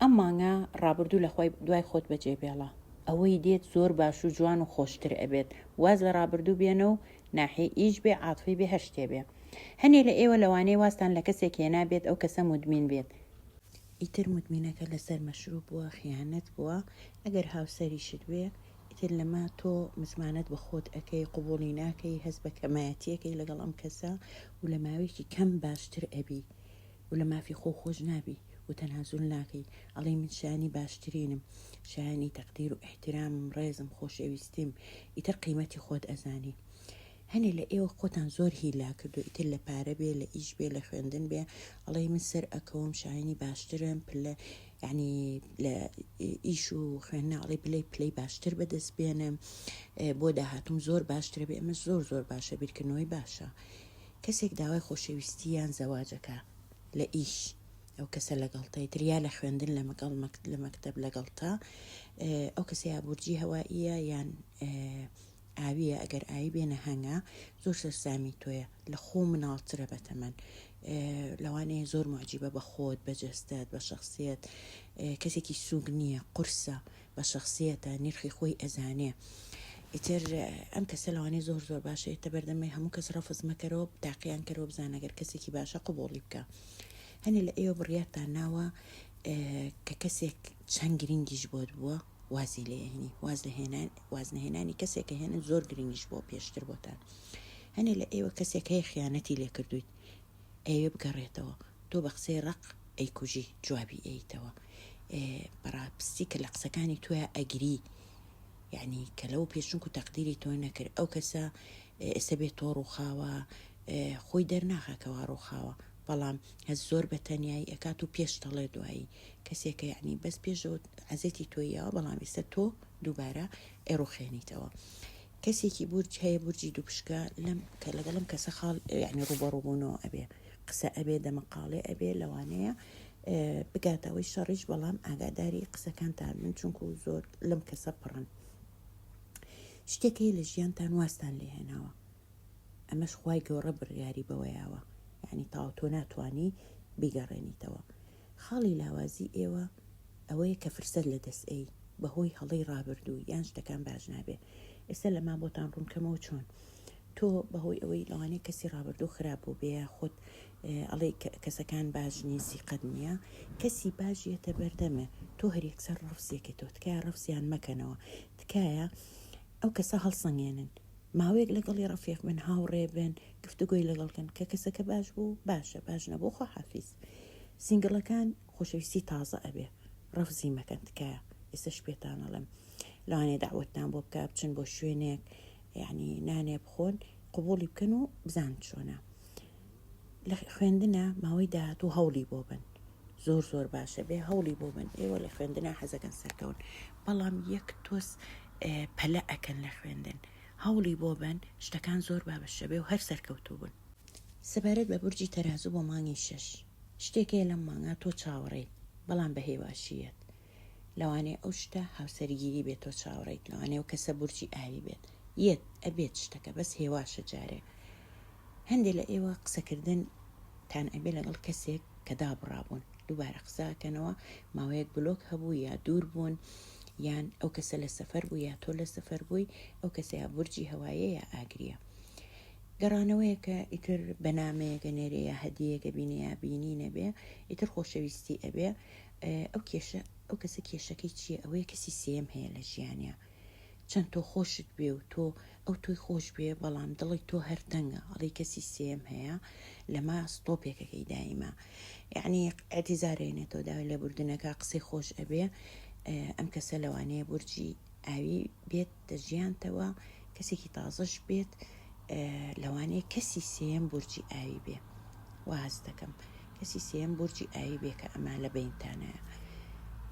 A: ئەم مانگە ڕابردوو لە خۆی دوای خۆت بەجێ بێڵە ئەوەی دێت زۆر باش و جوان و خۆشتر ئەبێت واز لە ڕابردوو بێنە و ناحی ئیش بێ عاتفی بێ هەر شتێ بێ هەنێ لە ئێوە لەوانەیە وازتان لە کەسێک هێنا بێت ئەو کەسە مودمین بێت ئیتر مودمینەکە لەسەر مەشروب بووە خیانەت بووە ئەگەر هاوسەریشت بێ ئیتر لەمە تۆ متمانەت بە خۆت ئەکەی قوبوڵی ناکەی هەست بە کەمایەتیەکەی لەگەڵ ئەم کەسە و لە ماوەیەکی کەم باشتر ئەبی و لە مافی خۆو خۆش نابی و تەنازول ناکەی ئەڵێی من شایەنی باشترینم شایەنی تەقدیر و ئیحتیرامم ڕێزم خۆشەویستیم ئیتر قیمەتی خۆت ئەزانی هەنێ لە ئێوە خۆتان زۆر هیلا کردو ئیتر لە پارە بێ لە ئیش بێ لە خوێندن بێ ئەڵێی من سەر ئەکەوم شایانی باشترم پلە یعنی لە ئیش و خوێندناڵی بلەی پلەی باشتر بەدەست بێنم بۆ داهاتم زۆر باشترە بێ ئەمە زۆر زۆر باشە بیرکردنەوەی باشە کەسێک داوای خۆشەویستی یان زەواج ئەکا لە ئیش ئەو کەسە لەگەڵتەی تریا لە خوێندن لە مەگەڵ لە مەکتب لەگەڵتە ئەو کەسەیە بورجی هەوائیە یان ئاویە ئەگەر ئاوی بێنە هەنگە زۆر سەرسامی تۆیە لە خۆ مناڵترە بەتەمەن لەوانەیە زۆر معجیبە بە خۆت بەجستت بە شخصیت کەسێکی سووگ نییە قورسە بە شەخسیەتە نرخی خۆی ئەزانێ ئیتر ئەم کەسە لەوانەیە زۆر زۆر باشە ئێتە بەردەمێ هەموو کەس ڕەفز مەکەرەوە تاقییان کەرەوە بزانەگەر کەسێکی باشە قوبوڵی بکە هەنێ لە ئێوە بڕیارتان ناوە کە کەسێک چەند گرنگیش بۆت بووە وازی لێهێنی واز لە هێنان وازنەهێنانی کەسێکە هێنن زۆر گرنگیش بۆ پێشتر بۆتان هەنێ لە ئێوە کەسێک هەیە خیانەتی لێکردویت ئەوێ بگەڕێتەوە تۆ بە قسەی ڕق ئەیکوژی جوابی ئەیتەوە بەڕاپستی کە لە قسەکانی توە ئەگری یعنی کە لەو پێشنک و تەقدیری تۆ نەکرد ئەو کەسە ئێستا بێت تۆ ڕووخاوە خۆی دەرناخەکەەوە ڕووخاوە بەڵام هەز زۆر بە تەنایی ئەکات و پێش دەڵێ دوایی کەسێکە یعنی بەس پێشەوە عزێتی تۆیەوە بەڵام ئێستا تۆ دووبارە ئێڕوخێنیتەوە کەسێکی بورج هەیە بورجی دووپشکە لەم کە لەگەڵم کەسە خاڵ یعنی ڕوبەڕوبوونەوە ئەبێ قسە ئەبێ دەمەقاڵێ ئەبێ لەوانەیە بگاتەوەی شەڕیش بەڵام ئاگاداری قسەکانتان من چونکو زۆر لەم کەسە پڕن شتێکی لە ژیانتان واستان لێهێناوە ئەمەش خی گەۆڕە بڕیاری بەوەیاوە یعنی تاوتۆ ناتانی بیگەڕێنیتەوە خاڵی لاوازی ئێوە ئەوەیە کە فرسەت لە دەست ئەی بە هۆی هەڵەی ڕابردوو یان شتەکان باش نابێ ئێستا لە ما بۆتان ڕوونکەمەوە چۆن تۆ بە هۆی ئەوەی لەوانەیە کەسی ڕابردوو خراپ بوو بێ خۆت ئەڵێ کەسەکان باش نین سیقەت نییە کەسی باش یەتە بەردەمێ تۆ هەرێکسەر ڕفسیەکە تۆ تکایە ڕفسیان مەکەنەوە تکایە ئەو کەسە هەڵسەنگێنن ماوەیەک لەگەڵی ڕفێق بن هاوڕێ بن گفتوگۆی لەگەڵکن کە کەسەکە باش بوو باشە باش نەبوو خۆ حافیز سینگڵەکان خۆشەویستی تازە ئەبێ ڕەفزی مەکەن تکایە ئێستەش پێتان ئەڵێم لەوانەیە داوەتتان بۆ بکە بچن بۆ شوێنێک یعنی نانێ بخۆن قوبوڵی بکەن و بزان چۆنە لە خوێندنە ماوەی داهات و هەوڵی بۆ بن زۆر زۆر باشە بێ هەوڵی بۆ بن ئێوە لە خوێندنا حەزەکەن سەرکەون بەڵام یەک تۆز پەلە ئەکەن لە خوێندن هەوڵی بۆ بن شتەکان زۆر بابەشەبێ و هەر سەرکەوتوو بن سەبارەت بە بورجی تەرازوو بۆ مانگی شەش شتێک هەیە لەم مانگا تۆ چاوەڕێیت بەڵام بە هێواشییەت لەوانەیە ئەو شتە هاوسەرگیری بێت تۆ چاوەڕێیت لەوانەیە ئەو کەسە بورجی ئاوی بێت یەت ئەبێت شتەکە بەس هێواشە جارێ هەندێک لە ئێوە قسەکردن تان ئەبێ لەگەڵ کەسێک کە دابڕابوون دووبارە قساکەنەوە ماوەیەک بلۆک هەبوو یا دوور بوون یان ئەو کەسە لە سەفەر بوو یا تۆ لە سەفەر بووی ئەو کەسەیە بورجی هەوایەیە ئاگریە گەڕانەوەیەکە ئیتر بە نامەیەکە نێرێ یا هەدیەکە بینێ یا بینی نەبێ ئیتر خۆشەویستی ئەبێ ئەو کێشە ئەو کەسە کێشەکەی چییە ئەوەیە کەسی سێم هەیە لە ژیانە چەند تۆ خۆشت بێ و تۆ ئەو تۆی خۆش بێ بەڵام دڵی تۆ هەرتەنگە ئەڵی کەسی سێم هەیە لەما ستۆپێکەکەی دایمە یعنی ئەتیزارێنێتەوە داوای لێبوردنەکە قسەی خۆش ئەبێ ئەم کەسە لەوانەیە بورجی ئاوی بێت دەجیانتەوە کەسێکی تازەش بێت لەوانەیە کەسی سێم بورجی ئاوی بێ واز دەکەم کەسی سێم بورجی ئاوی بێ کە ئەما لە بینتانەیە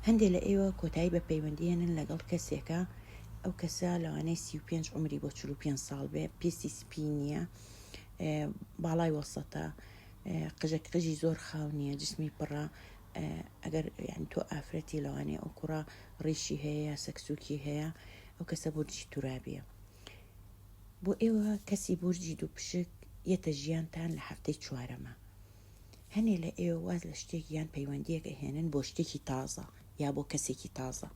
A: هەندێک لە ئێوە کۆتایی بە پەیوەندیێنن لەگەڵ کەسێکە ئەو کەسە لەوانەیە سی و پێنج عمری بۆ چلو پێ ساڵ بێ پێستی سپی نییە باڵای وەسەتە قژە قژی زۆر خاو نییە جسمی پڕە ئەگەر یان تۆ ئافرەتی لەوانەیە ئەو کوڕە ڕیشی هەیە یا سەکسوکی هەیە ئەو کەسە بورجی تورابیە بۆ ئێوە کەسی بورجی دوو پشک یەتە ژیانتان لە هەفتەی چوارەمە هەنێ لە ئێوە واز لە شتێک یان پەیوەندیەکە هێنن بۆ شتێکی تازە یا بۆ کەسێکی تازە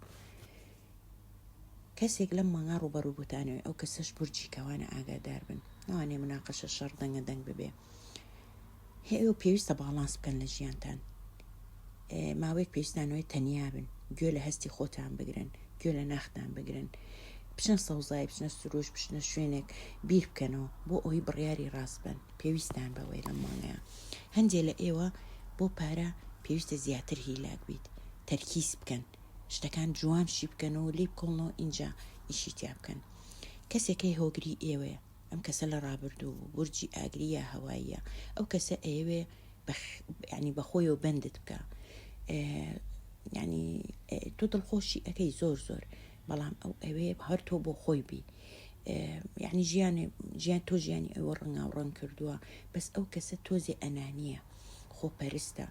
A: کەسێک لەم مانگا ڕوبەڕوو بوتانەوەی ئەو کەسەش بورجی کەوانە ئاگادار بن ناوانێ مناقەشە شەڕ دەنگە دەنگ ببێ هەیە و پێویستە باڵانس بکەن لە ژیانتان ماوەیەک پێستانەوەی تەنیا بن گوێ لە هەستی خۆتان بگرن گوێ لە ناختان بگرن بچنە سەوزای بچنە سروش بچنە شوێنێک بیر بکەنەوە بۆ ئەوی بڕیاری ڕاست بن پێویستان بەوەی لە مانەیە هەندێک لە ئێوە بۆ پارە پێویستە زیاتر هیلاک بیت تەرکیز بکەن شتەکان جوان شیبکەن و لیبکۆڵن و ئینجا ئیشی تیا بکەن کەسێ کەی هۆگری ئێوەیە ئەم کەسە لە ڕابردوو بوو بورجی ئاگری یا هەواییە ئەو کەسە ئەیەوێ بە ینی بەخۆیەوە بەندت بکە ینی تۆ دڵخۆشی ئەەکەی زۆر زۆر بەڵام ئەو ئەوێ هەر تۆ بۆ خۆی بی یعنی ژیانێ ژیان تۆ ژیانی ئەوە ڕنگاو ڕەنگ کردووە بەس ئەو کەسە تۆزێ ئەنانیە خۆپەرستە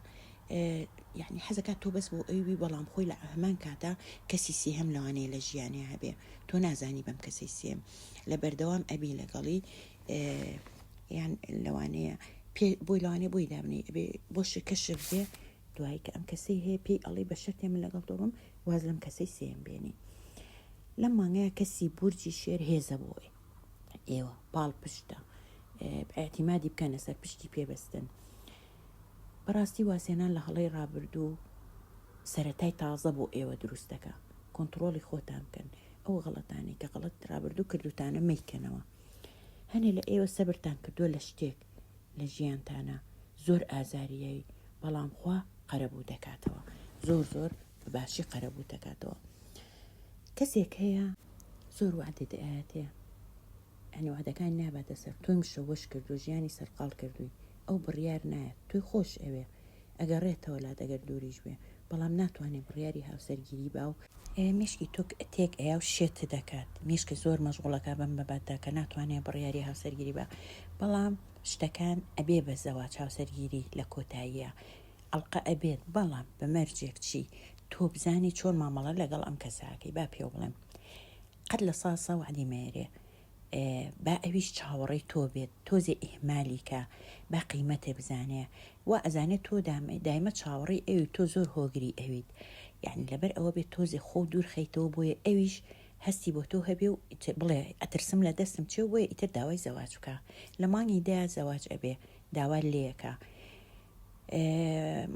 A: یەعنی حەزەکات تۆ بەس بۆ ئەوی بی بەڵام خۆی لە هەمان کاتا کەسی سێهەم لەوانەیە لە ژیانێ هەبێ تۆ نازانی بەم کەسەی سێم لە بەردەوام ئەبی لەگەڵی یان لەوانەیە پێ بۆی لەوانێ بۆی دابنی ئەبێ بۆ شکە شک بێ دوایی کە ئەم کەسەی هەیە پێی ئەڵی بە شەرتێ من لەگەڵ دۆڕم واز لەم کەسەی سێم بێنی لەم مانگەیە کەسی بورجی شێر هێزە بۆ ئێوە پاڵ پشتە ئاعتیمادی بکەنە سەر پشتی پێبستن بەڕاستی وازهێنان لە هەڵەی ڕابردوو سەرەتای تازە بۆ ئێوە دروست دەکا کۆنتڕۆڵی خۆتان بکەن ئەو غەڵەتانەی کە غەڵەت ڕابردوو کردوتانە مەیکەنەوە هەنێ لە ئێوە سەبرتان کردووە لە شتێک لە ژیانتانە زۆر ئازاریایی بەڵام خوا قەرەبوو دەکاتەوە زۆر زۆر بە باشی قەرەبوو دەکاتەوە کەسێک هەیە زۆر وعدە دەیاتێ یانی وەعدەکانی ناباتە سەر تۆی مشەوەش کردوە ژیانی سەرقاڵ کردوی ئەو بڕیار نایەت تۆی خۆش ئەوێ ئەگەڕێتەوە لات ئەگەر دوریش بێ بەڵام ناتوانێ بڕیاری هاوسەرگیری با و مێشکی تۆ تێک ئەیا و شێت دەکات مێشکت زۆر مەشغوڵە کا بەم بەباتدا کە ناتوانێ بڕیاری هاوسەرگیری با بەڵام شتەکان ئەبێ بە زەواج هاوسەرگیری لە کۆتاییە ئەڵقە ئەبێت بەڵام بە مەرجێک چی تۆ بزانی چۆن مامەڵە لەگەڵ ئەم کەساکەی با پێوە بڵێم قەت لە سا سا وەعدی مەیەرێ با ئەویش چاوەڕێی تۆ بێت تۆزێ ئیهمالیکە با قیمەتێ بزانێ وا ئەزانێت تۆ دایمە چاوەڕێی ئەوی تۆ زۆر هۆگری ئەویت یعنی لەبەر ئەوە بێت تۆزێ خۆ دوور خەیتەوە بۆیە ئەویش هەستی بۆ تۆ هەبێ و بڵێ ئەترسم لە دەستم چێ بۆیە ئیتر داوای زەواج بکە لە مانگی دە زەواج ئەبێ داوا لێەکە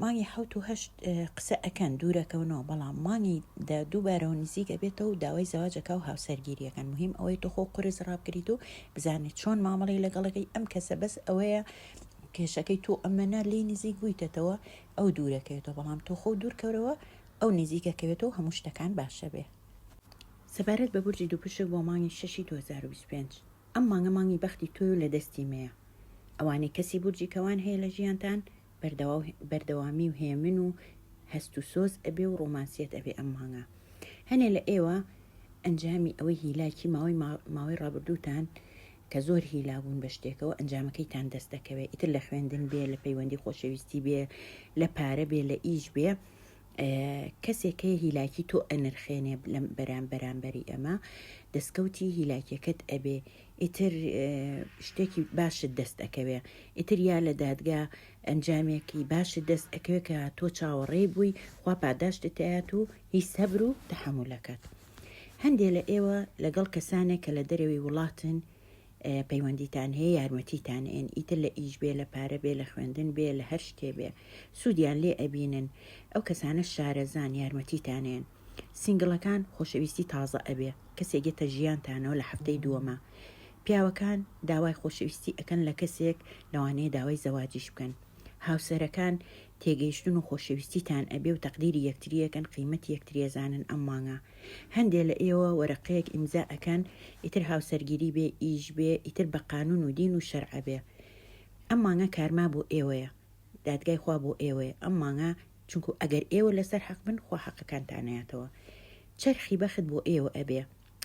A: مانگی حوت و هەشت قسە ئەکەن دوورەکەونەوە بەڵام مانگی دە دووبارەوە نزیک ئەبێتەوە و داوای زەواجەکە و هاوسەرگیریەکەن مهم ئەوەی تۆ خۆ قرس ڕابگریت و بزانێت چۆن مامەڵی لەگەڵەکەی ئەم کەسە بەس ئەوەیە کێشەکەی تۆ ئەمەنا لی نزیک بوویتەتەوە ئەو دوورەکەوێتەوە بەڵام تۆ خۆ دوورکەورەوە ئەو نزیکەکەوێتەوە هەموو شتەکان باشە بێ سەبارەت بە بورجی دووپشک بۆ مانگی شەشی 2025 ئەم مانگە مانگی بەختی تۆی و لە دەستی مەیە ئەوانەی کەسی بورجی کەوان هەیە لە ژیانتان بەردەواو بەردەوامی و هێمن و هەست و سۆز ئەبێ و ڕۆمانسیەت ئەبێ ئەم مانگە هەنێ لە ئێوە ئەنجامی ئەوەی هیلاکی ماوەی ماوەی ڕابردووتان کە زۆر هیلا بوون بە شتێکەوە ئەنجامەکەیتان دەست دەکەوێت ئیتر لە خوێندن بێ لە پەیوەندی خۆشەویستی بێ لە پارە بێ لە ئیش بێ کەسێک هەیە هیلاکی تۆ ئەنرخێنێ لەم بەرام بەرامبەری ئەمە دەستکەوتی هیلاکیەکەت ئەبێ ئیتر شتێکی باشت دەست ئەەکەوێ ئیتر یا لە دادگا ئەنجامێکی باشت دەست ئەەکەوێ کە تۆ چاوەڕێ بووی خوا پاداشتتەیات و هی سەبر و تحملەکەت هەندێ لە ئێوە لەگەڵ کەسانێک کە لە دەرەوەی وڵاتن پەیوەندیتان هەیە یارمەتیتان ئێن ئیتر لە ئیش بێ لە پارە بێ لە خوێندن بێ لە هەر شتێ بێ سوودیان لێ ئەبینن ئەو کەسانە شارەزان یارمەتیتانێن سنگڵەکان خۆشەویستی تازە ئەبێ کەسێگێتە ژیانتانەوە لە هەفتەی دووەمە پیاوەکان داوای خۆشەویستی ئەەکەن لە کەسێک لەوانەیە داوای زەواجیش بکەن هاوسەرەکان تێگەیشتن و خۆشەویستیتان ئەبێ و تەقدیری یەکتریەکەن قیمەت یەکتریێزانن ئەم مانگە هەندێ لە ئێوە وەرەقەیەک ئیمزا ئەکەن ئیتر هاوسەرگیری بێ ئیش بێ ئیتر بە قانون و دین و شەرع ئەبێ ئەم مانگە کارما بۆ ئێوەیە دادگای خوا بۆ ئێوەیە ئەم مانگە چونکو ئەگەر ئێوە لەسەر حەق بن خوا حەقەکانتان نەیاتەوە چەرخی بەخت بۆ ئێوە ئەبێ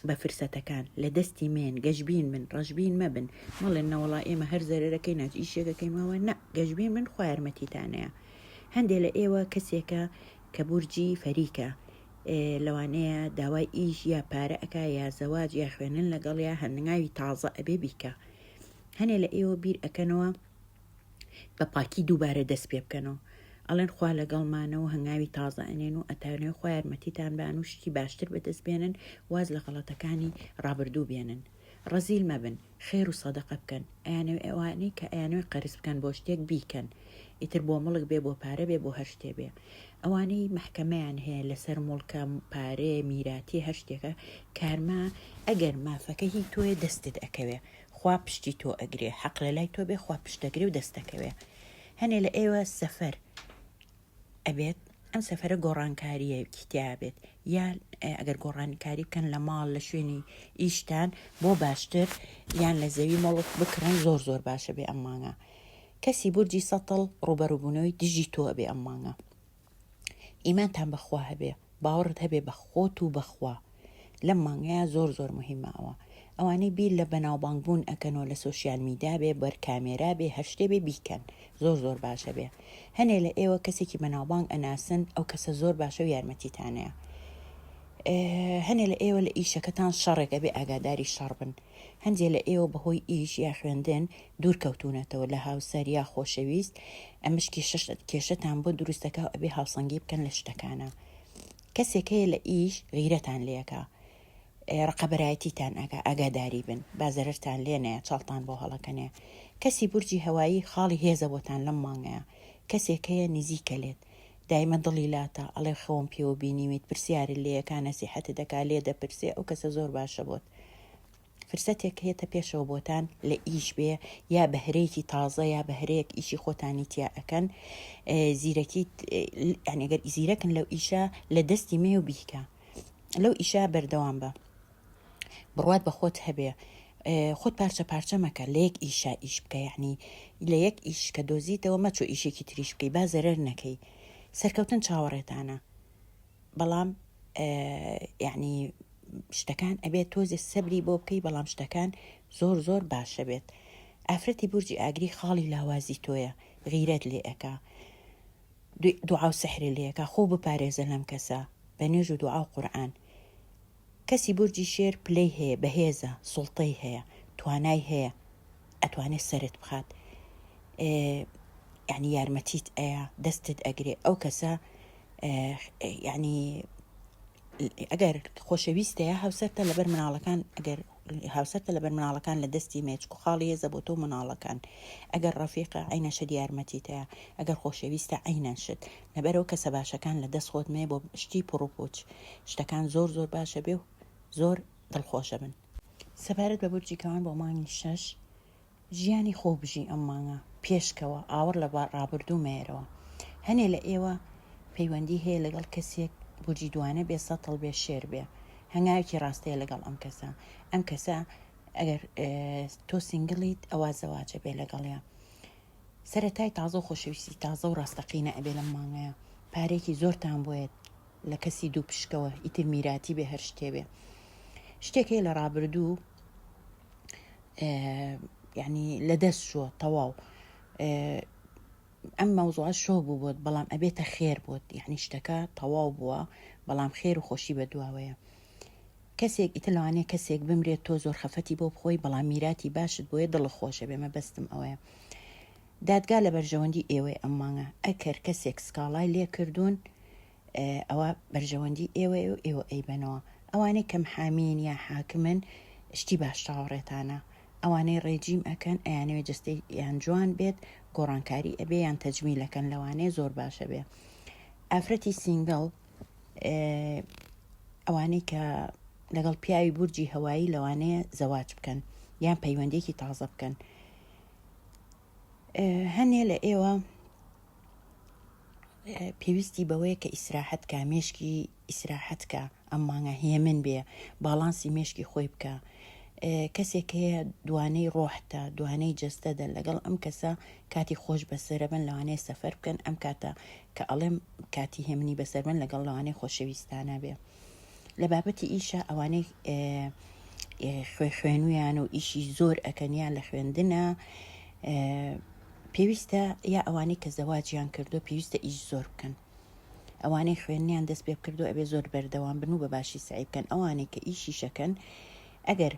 A: بە فرسەتەکان لە دەستی مێن گەشبین من ڕەشبین مەبن مەڵێن نەوەڵا ئێمە هەر زەرەرەکەی ناچ ئیشێکەکەیمەوە نە گەشبین من خوا یارمەتیتانەیە هەندێ لە ئێوە کەسێکە کە بورجی فەریکە لەوانەیە داوای ئیش یا پارە ئەکا یا زەواج یا خوێنن لەگەڵ یا هەننگاوی تازە ئەبێ بیکا هەنێ لە ئێوە بیر ئەکەنەوە بە پاکی دووبارە دەست پێ بکەنەوە ئەڵێن خوا لەگەڵمانەوە هەنگاوی تازە ئەنێن و ئەتانێ خۆیارمەتیتان بان و شتی باشتر بەدەست بێنن واز لە غەڵەتەکانی ڕابردوو بێنن ڕەزیل مەبن خێر و سەدەقە بکەن ئەیانەوێ ئەوانەی کە ئەیانەوێ قەرز بکەن بۆ شتێک بیکەن ئیتر بۆ مڵک بێ بۆ پارە بێ بۆ هەر شتێ بێ ئەوانەی مەحکەمەیان هەیە لەسەر مڵکە پارەیە میراتیە هەر شتێکە کارما ئەگەر مافەکە هی تۆیە دەستت ئەکەوێ خوا پشتی تۆ ئەگرێ حەق لەلای تۆ بێ خوا پشتەگرێ و دەستەکەوێ هەنێ لە ئێوە سەفەر ئەبێت ئەم سەفرە گۆڕانکاریەکی تیابێت یان ئەگەر گۆڕانکاری بکەن لە ماڵ لە شوێنی ئیشتان بۆ باشتر یان لە زەوی مەڵک بکڕن زۆر زۆر باشە بێ ئەمانە کەسی بورجی سەتڵ ڕوبەروبوونەوەی دژی تۆ بێ ئەمانە ئیمانتان بەخوا هەبێ باوەڕت هەبێ بە خۆت و بەخوا لەم مانگەیا زۆر زۆر موهیمە ئەوە ئەوانەی بیر لە بەناوبانگ بوون ئەکەن و لە سۆشیال میدیا بێ بەر کامێرا بێ هەر شتێ بێ بیکەن زۆر زۆر باشە بێ هەنێ لە ئێوە کەسێکی بەناوبانگ ئەناسن ئەو کەسە زۆر باشە و یارمەتیتانەیە هەنێ لە ئێوە لە ئیشەکەتان شەڕێک ئەبێ ئاگاداری شەڕ بن هەندێ لە ئێوە بەهۆی ئیش یا خوێندن دوورکەوتوونەتەوە لە هاوسەر یا خۆشەویست ئەمەش کێشە کێشەتان بۆ دروست دەکا و ئەبێ هاوسەنگی بکەن لە شتەکانە کەسێک هەیە لە ئیش غیرەتان لەکە ڕقەبەرایەتیتان ئەگا ئاگاداری بن بازەرتان لێ نەیە چاڵتان بۆ هەڵەکەنێ کەسی بورجی هەوایی خاڵی هێزە بۆتان لەم مانگەیە کەسێک هەیە نزیکە لێت دایمە دڵی لاتە ئەڵێ خەوم پێوە بینیویت پرسیارە لێەکانە سیحەتە دەکا لێ دەپرسێ ئەو کەسە زۆر باشە بۆت فرسەتێک کهێتە پێشەوە بۆتان لە ئیش بێ یا بهرەیەکی تازە یا بهرەیەک ئیشی خۆتانی تیا ئەکەن زیرەکی ئەنێگەر ئیزیرەکن لەو ئیشە لە دەستی مێ و بیکە لەو ئیشە بەردەوام بە بڕوات بە خۆت هەبێ خۆت پارچە پارچە مەکە لە یەک ئیشا ئیش بکە یعنی لە یەک ئیش کە دۆزیتەوە مەچۆ ئیشێکی تریش بکەی با زەرەر نەکەی سەرکەوتن چاوەڕێتانە بەڵام یعنی شتەکان ئەبێت تۆزێ سەبری بۆ بکەی بەڵام شتەکان زۆر زۆر باشە بێت ئافرەتی بورجی ئاگری خاڵی لاوازی تۆیە غیرەت لێ ئەەکە دوعاو سەحرێ لەکە خۆ بپارێزە لەم کەسە بە نوێژ و دوعا و قورآن کەسی بورجی شێر پلەی هەیە بەهێزە سوڵتەی هەیە توانای هەیە ئەتوانێت سەرت بخات یعنی یارمەتیت ئەیە دەستت ئەگرێ ئەو کەسە یعنی ئەگەر خۆشەویستەیە هاوسەرتە لەبەر مناڵەکان ئەگەر هاوسەرتە لەبەر مناڵەکان لە دەستی مێ چکو خاڵی هێزە بۆ تۆ مناڵەکان ئەگەر ڕەفیقە عینە شت یارمەتیتەیە ئەگەر خۆشەویستە عینەن شت نەبەرەوە کەسە باشەکان لە دەست خۆت مێ بۆ شتی پڕوپوچ شتەکان زۆر زۆر باشە بێ و زۆر دڵخۆشە بن سەبارەت بە بورجی کەوان بۆ مانگی شەش ژیانی خۆو بژی ئەم مانگە پێشکەوە ئاوڕ لە ڕابردوو مەیەرەوە هەنێ لە ئێوە پەیوەندی هەیە لەگەڵ کەسێک بورجی دوانە بێ سەتڵ بێ شێر بێ هەنگاوێکی ڕاستەیە لەگەڵ ئەم کەسە ئەم کەسە ئەگەر تۆ سنگلیت ئەوە زەواجە بێ لەگەڵیان سەرەتای تازە و خۆشەویستی تازە و ڕاستەقینە ئەبێ لەم مانگەیە پارێکی زۆرتان بۆیت لە کەسی دوو پشکەوە ئیتر میراتی بێ هەر شتێ بێ شتێکی لە ڕابردوو یعنی لە دەست شووە تەواو ئەم مەوزوع شۆ بوو بۆت بەڵام ئەبێتە خێر بۆت یعنی شتەکە تەواو بووە بەڵام خێر و خۆشی بە دواوەیە کەسێک ئیتە لەوانەیە کەسێک بمرێت تۆ زۆر خەفەتی بۆ بخۆی بەڵام میراتی باشت بۆیە دڵ خۆشە بێمە بەستم ئەوەیە دادگا لە بەرژەوەندی ئێوەی ئەم مانگە ئەکەر کەسێک سکاڵای لێکردوون ئەوە بەرژەوەندی ئێوەیە و ئێوە ئەیبەنەوە ئەوانەی کەم حامین یا حاکمن شتی باش چاوەڕێتانە ئەوانەی ڕێجیم ئەکەن ئەیانەوێ جستەی یان جوان بێت گۆڕانکاری ئەبێ یان تەجمیلەکەن لەوانەیە زۆر باشە بێ ئافرەتی سینگڵ ئەوانەی کە لەگەڵ پیاوی بورجی هەوایی لەوانەیە زەواج بکەن یان پەیوەندێکی تازە بکەن هەنێ لە ئێوە پێویستی بەوەیە کە ئیسراحەت کا مێشکی ئیسراحەت کا ئەم مانگە هێمن بێ باڵانسی مێشکی خۆی بکە کەسێک هەیە دوانەی ڕۆحتە دوانەی جستەدە لەگەڵ ئەم کەسە کاتی خۆش بەسرە بن لەوانەیە سەفەر بکەن ئەم کاتە کە ئەڵێم کاتی هێمنی بەسەر بن لەگەڵ لەوانەیە خۆشەویستانە بێ. لە بابەتی ئیشە ئەوانەی خوێ خوێنویان و ئیشی زۆر ئەکەنیان لە خوێندنە پێویستە یا ئەوانەی کە زەواجیان کردو پێویستە ئیش زۆر بکەن ئەوانەی خوێنیان دەست پێ بکردو ئەبێ زۆر بەردەوام بن و بە باشی سعی بکەن ئەوانەی کە ئیشیشەکەن ئەگەر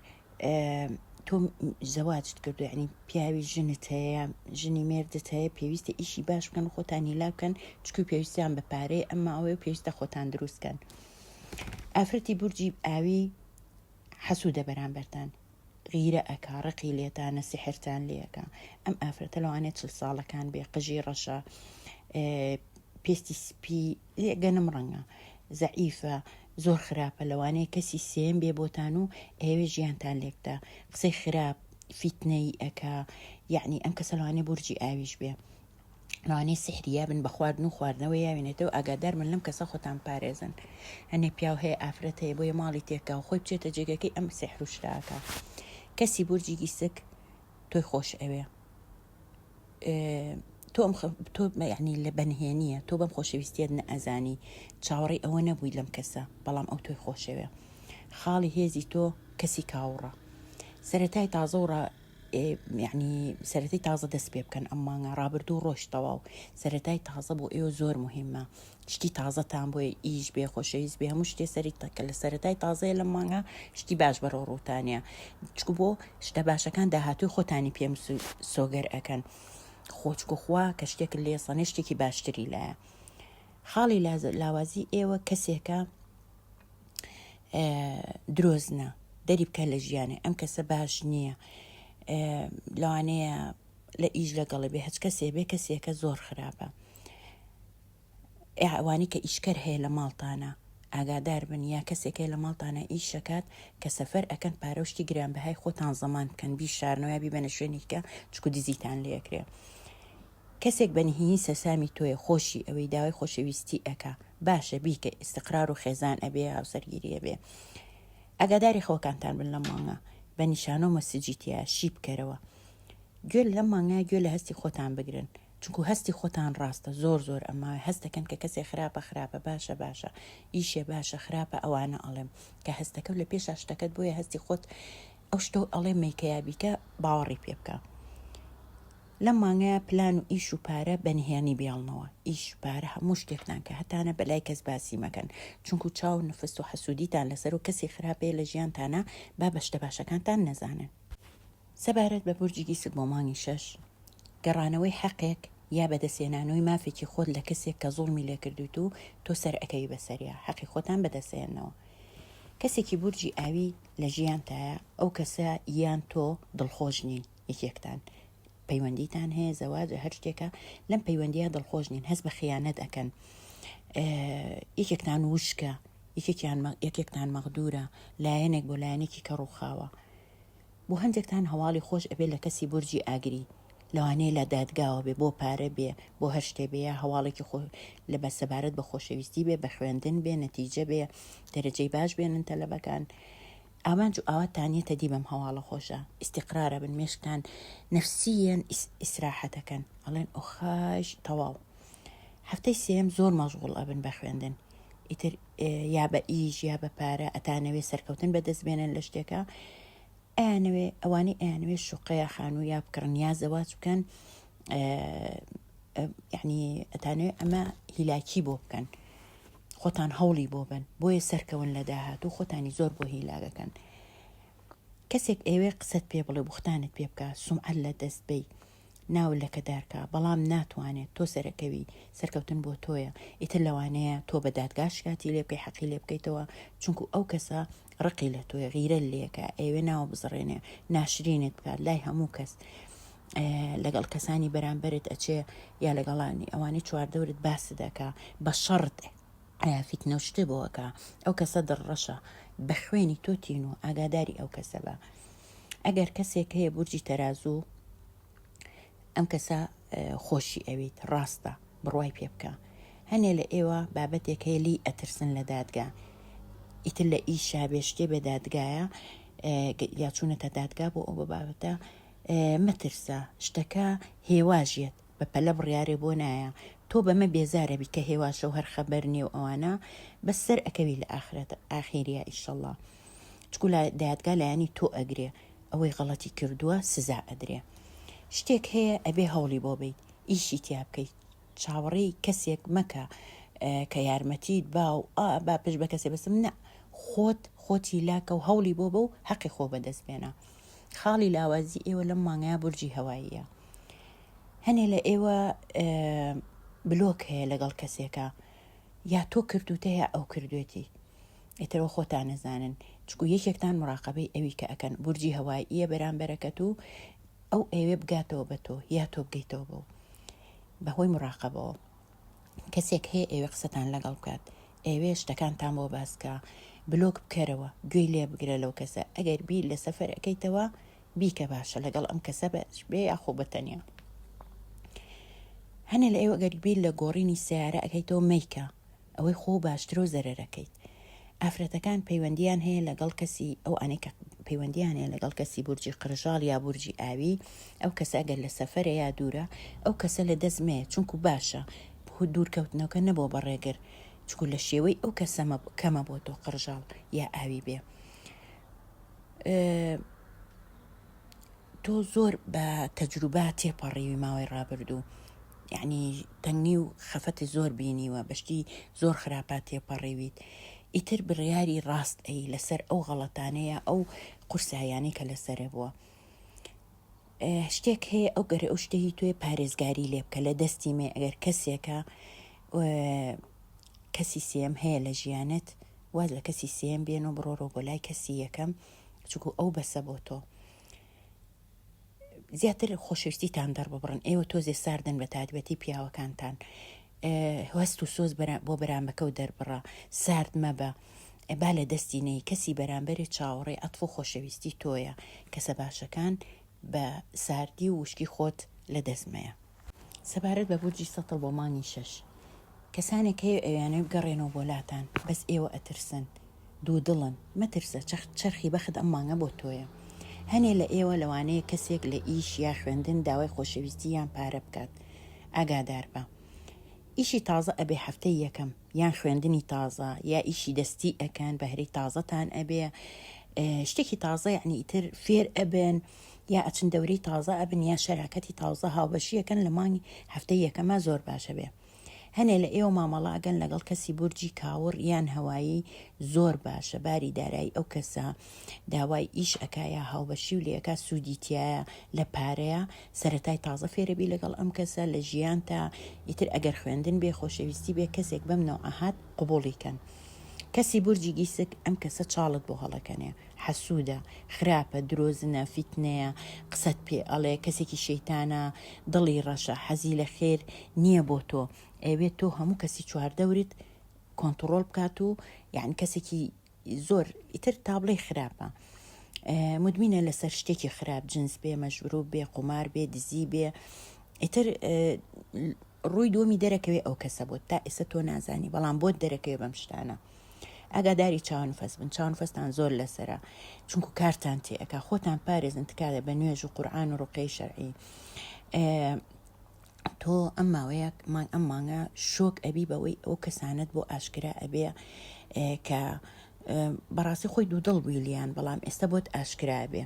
A: تۆ زەواجت کردو ینی پیاوی ژنت هەیە ژنی مێردت هەیە پێویستە ئیشی باش بکەن خۆتانی لا بکەن چکو پێویستیان بە پارەی ئەمما ئەوەیە پێویستە خۆتان دروستکەن ئافرەتی بورجی ئاوی حەسوودە بەرامبەرتان غیرە ئەکا ڕقی لێتانە سحرتان لەکە ئەم ئافرەتە لەوانێت چل ساڵەکان بێ قژی ڕەشە پێستی سپی لێگەنم ڕەنگە زەعیفە زۆر خراپە لەوانەیە کەسی سێیەم بێ بۆتان و ئەیەوێ ژیانتان لێبدا قسەی خراپ فیتنەی ئەکا یعنی ئەم کەسە لەوانەیە بورجی ئاویش بێ لەوانەیە سحریا بن بە خواردن و خواردنەوە یاوێنێتەوە ئاگادار من لەم کەسە خۆتان پارێزن هەنێ پیاو هەیە ئافرەت هەیە بۆیە ماڵی تێکا و خۆی بچێتە جێگەکەی ئەم سحر و شراکە کەسی بورجی گیسک تۆی خۆش ئەوێ تۆم تۆ یعنی لە بەنهێنیە تۆ بەم خۆشەویستیت نەئەزانی چاوەڕی ئەوە نەبووی لەم کەسە بەڵام ئەو تۆی خۆشەوێ خاڵی هێزی تۆ کەسی کاوڕە سەتای تازە و یعنی سەرەتی تازە دەست پێ بکەن ئەم مانگە ڕابردوو ڕۆشتەوە و سەتای تازە بۆ ئێوە زۆر مهمە شتی تازە تان بۆیە ئیش بێ خۆشەویست بێ هەموو شتێ سەری تەکە لە سەرەتای تازەیە لە مانگە شتی باش بەڕۆ ڕووتانە چکو بۆ شتە باشەکان داهاتوی خۆتانی پێم سۆگەر ئەەکەن خۆچکو خوا کە شتێک لێ سەنێ شتێکی باشتری لایە خاڵی لاوازی ئێوە کەسێکە درۆزنە دەری بکە لە ژیانێ ئەم کەسە باش نییە لەوانەیە لە ئیش لەگەڵی بێ هەچ کەسێ بێ کەسێکە زۆر خراپە ئەوانەی کە ئیشکەر هەیە لە ماڵتانا ئاگادار بن یا کەسێک هەیە لە ماڵتانا ئیش ئەکات کە سەفەر ئەکەن پارە و شتی گرانبەهای خۆتان زەمان بکەن بیشارنەوە یا بیبەنە شوێنێکە چکو دزیتان لێ ئەکرێ کەسێک بە نهینی سەرسامی تۆیە خۆشی ئەوەی داوای خۆشەویستی ئەکا باشە بیکە ئیستقرار و خێزان ئەبێ هاوسەرگیری ئەبێ ئاگاداری خەوەکانتان بن لەم مانگە بە نیشانە و مەسجی تیا شی بکەرەوە گوێ لەم مانگە گوێ لە هەستی خۆتان بگرن چونکو هەستی خۆتان ڕاستە زۆر زۆر ئەماوێ هەست دەکەن کە کەسێ خراپە خراپە باشە باشە ئیشێ باشە خراپە ئەوانە ئەڵێم کە هەستەکەو لە پێشا شتەکەت بۆیە هەستی خۆت ئەو شتۆ ئەڵێ مەیکەیا بیکە باوەڕی پێ بکە لەم مانگەیە پلان و ئیش و پارە بەنهێنی بیاڵنەوە ئیش پارە هەموو شتێکتان کە هەتانە بەلای کەس باسی مەکەن چونکو چاو نفست و حەسوودیتان لەسەر و کەسی خراپەیە لە ژیانتانە با بە شتە باشەکانتان نەزانن سەبارەت بە بورجی دیسک بۆ مانگی شەش، گەڕانەوەی حەقێک یا بەدەستهێنانوەی مافێکی خۆت لە کەسێک کە زوڵمی لێکردویت و تۆ سەرئەکەوی بەسەریا، حەقی خۆتان بەدەستەێنەوە. کەسێکی بورجی ئاوی لە ژیانتایە، ئەو کەسە یان تۆ دڵخۆش نین، یەکێکتان پەیوەندیتان هەیە، زەواجە هەر شتێکە، لەم پەیوەندیە دڵخۆش نین، هەست بە خیانەت ئەکەن، یەکێکتان وشکە، یەکێکیان یەکێکتان مەغدورە، لایەنێک بۆ لایەنێکی کە ڕووخاوە. بۆ هەندێکتان هەواڵی خۆش ئەبێ لە کەسی بورجی ئاگری لەوانەیە لە دادگاوە بێ بۆ پارە بێ بۆ هەر شتێ بێ یا هەواڵێکی خۆ لە بە سەبارەت بە خۆشەویستی بێ بە خوێندن بێ نەتیجە بێ دەرەجەی باش بێنن تەلەبەکان ئامانج و ئاوات تانیەتە دی بەم هەواڵە خۆشە ئیسیقرارە بن مێشکتان نەفسیەن ئیسراحەتەکەن ئەڵێن ئۆخاش تەواو هەفتەی سێم زۆر مەژغوڵ ئەبن بە خوێندن ئیتر یا بە ئیش یا بە پارە ئەتانەوێ سەرکەوتن بەدەست بێنن لە شتێکە ئەیانەوێ ئەوانەی ئەیانوێ شوقەیە خانوو یا بکڕن یا زەواج بکەن یعنی ئەتانوێ ئەمە هیلاکی بۆ بکەن خۆتان هەوڵی بۆ بن بۆیە سەرکەون لە داهات و خۆتانی زۆر بۆ هیلاگەکەن کەسێک ئێوێ قسەت پێ بڵێ بوختانت پێ بکە سومعەت لە دەست بی ناو لەکەدارکا بەڵام ناتوانێت تۆ سەرەکەوی سەرکەوتن بۆ تۆیە ئیتر لەوانەیە تۆ بە دادگا شکاتی لێ بکەی حەقی لێ بکەیتەوە چونکو ئەو کەسە ڕقی لە تۆی غیرە لێکە ئەوێ ناو بزڕێنێ ناشرینت بکات لای هەموو کەس لەگەڵ کەسانی بەرامبرت ئەچێ یا لەگەڵانی ئەوانی چواردەورت باس دەکا بە شەڕت فیتنە شتێ بۆەکە ئەو کەسە دڕڕەشە بە خوێنی تۆ تین و ئاگاداری ئەو کەسە بە ئەگەر کەسێک هەیە بورجی تەرازوو ئەم کەسە خۆشی ئەویت ڕاستە بڕوای پێ بکە هەنێ لە ئێوە بابەتێک هەیە لی ئەترسن لە دادگا ئیتر لە ئیشا بێ شتێ بێ دادگایە یا چوونەتە دادگا بۆ ئەو بە بابەتە مەترسە شتەکە هێواژێت بە پەلە بڕیارێ بۆ نایە تۆ بەمە بێزارەبی کە هێواشە و هەر خەبەر نێو ئەوانە بەسەر ئەکەوی لە ئاخرەت ئاخیریا ئیشەڵە. چکو لە دادگا لایەنی تۆ ئەگرێ ئەوەی غەڵەتی کردووە سزا ئەدرێ شتێک هەیە ئەبێ هەوڵی بۆ بیت ئیشی تیا بکەیت چاوەڕێی کەسێک مەکە کە یارمەتیت با و ئا با پش بە کەسێ بەسم نە خۆت خۆتی لاکە و هەوڵی بۆ بە و حەقی خۆ بەدەست بێنە خاڵی لاوازی ئێوە لەم مانگەیە بورجی هەواییە هەنێ لە ئێوە بلۆک هەیە لەگەڵ کەسێکە یا تۆ کردوتە یا ئەو کردوێتی ئیترئەوە خۆتان ئەزانن چکو یەکێکتان مراقبەی ئەوی کە ئەکەن بورجی هەوای یە بەرامبەرەکەت و ئەو ئەوێ بگاتەوە بە تۆ یا تۆ بگەیتەوە بەو بەهۆی مراقبەوە کەسێک هەیە ئێوە قسەتان لەگەڵ بکات ئێوێ شتەکانتان بۆ باسکە بلۆک بکەرەوە گوێی لێ بگرە لەو کەسە ئەگەر بیر لە سەفەر ئەەکەیتەوە بیکە باشە لەگەڵ ئەم کەسە بەش بێ یاخۆ بەتەنیا هەنێ لە ئێوە گەربیر لە گۆڕینی سیارە ئەەکەیتەوە میکە ئەوەی خۆو باشترەو زەرەرەکەیت. ئافرەتەکان پەیوەندیان هەیە لەگەڵ کەسی ئەو ئەنەی کە پەیوەندیان هەیە لەگەڵ کەسی بورجی قرژاڵ یا بورجی ئاوی ئەو کەسە ئەگەر لە سەفەرە یا دوورە ئەو کەسە لە دەست مەیە چونکو باشە خو دوورکەوتنەوەکە نەبۆ بە ڕێگر چکو لە شێوەی ئەو کەسەمە کەمە بۆ تۆ قرژاڵ یا ئاوی بێ. تۆ زۆر بە تەجروبە تێپەڕیوی ماوەی ڕابردوو یعنی تەنگی و خەفەتی زۆر بینیوە بەشتی زۆر خراپات تێپەڕیویت ئیتر بڕیاری ڕاست ئەی لەسەر ئەو غەڵەتانەیە ئەو قورسایانی کە لەسرە بووە شتێک هەیە ئەو گەرە ئەو شتەی توێ پارێزگاری لێ بکە لە دەستی مێ ئەگەر کەسێکە کەسی سێم هەیە لە ژیانت واز لە کەسی سێم بێن و بڕۆڕۆ بۆ لای کەسی یەکەم چکو ئەو بەسە بۆ تۆ زیاتر خۆشویستیتان دەڕببڕن ئێوە تۆزێ ساردن بە تادبەتی پیاوەکانتان هەست و سۆز بۆ بەرامەکە و دەربڕە سارد مەبە با لە دەستی نەی کەسی بەرامبەرێ چاوەڕێ ئەتف و خۆشەویستی تۆیە کەسە باشەکان بە ساردی و وشکی خۆت لە دەستمەیە سەبارەت بە بورجی سەتڵ بۆ مانگی شەش کەسانێک هەیە ئەویانەوێ بگەڕێنەوە بۆ لاتان بەس ئێوە ئەترسن دوودڵن مەترسە چەخت چەرخی بەخت ئەم مانگە بۆ تۆیە هەنێ لە ئێوە لەوانەیە کەسێک لە ئیش یا خوێندن داوای خۆشەویستی یان پارە بکات ئاگاداربە ئیشی تازە ئەبێ هەفتەی یەکەم یان خوێندنی تازە یا ئیشی دەستی ئەکەن بەهرەی تازەتان ئەبێ شتێکی تازە یعنی ئیتر فێر ئەبن یا ئەچن دەورەی تازە ئەبن یا شەراکەتی تاوزە هاوبەشیەکەن لە مانگی هەفتەی یەکەما زۆر باشە بێ هەنێ لە ئێوە مامەڵە ئەگەن لەگەڵ کەسی بورجی کاوڕ یان هەوایی زۆر باشە باری دارایی ئەو کەسە داوای ئیش ئەکایە هاوبەشی و لەکە سوودی تایە لە پارەیە سەتای تازە فێرەبی لەگەڵ ئەم کەسە لە ژیان تا ئیتر ئەگەر خوێندن بێ خۆشەویستی بێ کەسێک بەم نەوعەهات قوبڵیکەن کەسی بورجی گیسک ئەم کەسە چاڵت بۆ هەڵەکەنێ حەسودە خراپە درۆزنە فیتنەیە قسەت پێ ئەڵێ کەسێکی شەیتانە دڵی ڕەشە حەزی لە خێر نیە بۆ تۆ ئەیەوێت تۆ هەموو کەسی چواردەورت کۆنتڕۆڵ بکات و یان کەسێکی زۆر ئیتر تابڵێ خراپە مدمینە لەسەر شتێکی خراپ جنس بێ مەژروب بێ قومار بێ دزی بێ ئیتر ڕووی دووەمی دەرەکەوێ ئەو کەسە بۆت تا ئێستا تۆ نازانی بەڵام بۆت دەرەکەوێ بەم شتانە ئاگاداری چاونفەس بن چاونفەستان زۆر لەسرە چونکو کارتان تێئەکا خۆتان پارێزن تکایە بە نوێژ و قورآن و ڕوقەی شەرعی تۆ ئەم ماوەیە مان ئەم مانگە شۆک ئەبی بەوەی ئەو کەسانت بۆ ئاشکرا ئەبێ کە بەڕاستی خۆی دوودڵ بووی لیان بەڵام ئێستا بۆت ئاشکرا بێ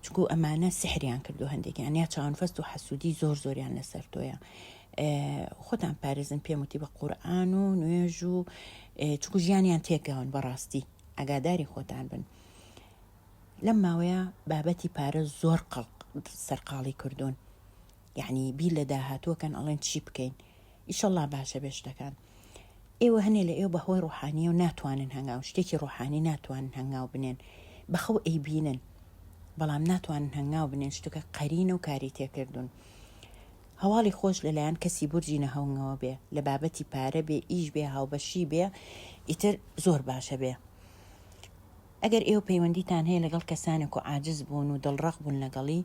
A: چونکو ئەمانە سحریان کردو هەندێکیان یا چاونفەست و حەسوودی زۆر زۆریان لەسەر تۆیە خۆتان پارێزن پێم وتی بە قورآن و نوێژ و چکو ژیانیان تێکەون بەڕاستی ئەگاداری خۆتان بن لەم ماوەیە بابەتی پارە زۆر قەڵق سەرقاڵی کردوون یەعنی بیر لە داهاتوو ئەکەن ئەڵێن چی بکەین ئیشەڵا باشە بێ شتەکان ئێوە هەنێ لە ئێوە بەهۆی ڕوحانیە و ناتوانن هەنگاو شتێکی ڕوحانی ناتوانن هەنگاو بنێن بەخەو ئەی بینن بەڵام ناتوانن هەنگاو بنێن شتەکە قەرینە و کاری تێکردون هەواڵی خۆش لەلایەن کەسی بورجی نەهەونگەوە بێ لە بابەتی پارە بێ ئیش بێ هاوبەشی بێ ئیتر زۆر باشە بێ ئەگەر ئێوە پەیوەندیتان هەیە لەگەڵ کەسانێک و عاجز بوون و دڵڕەق بوون لەگەڵی،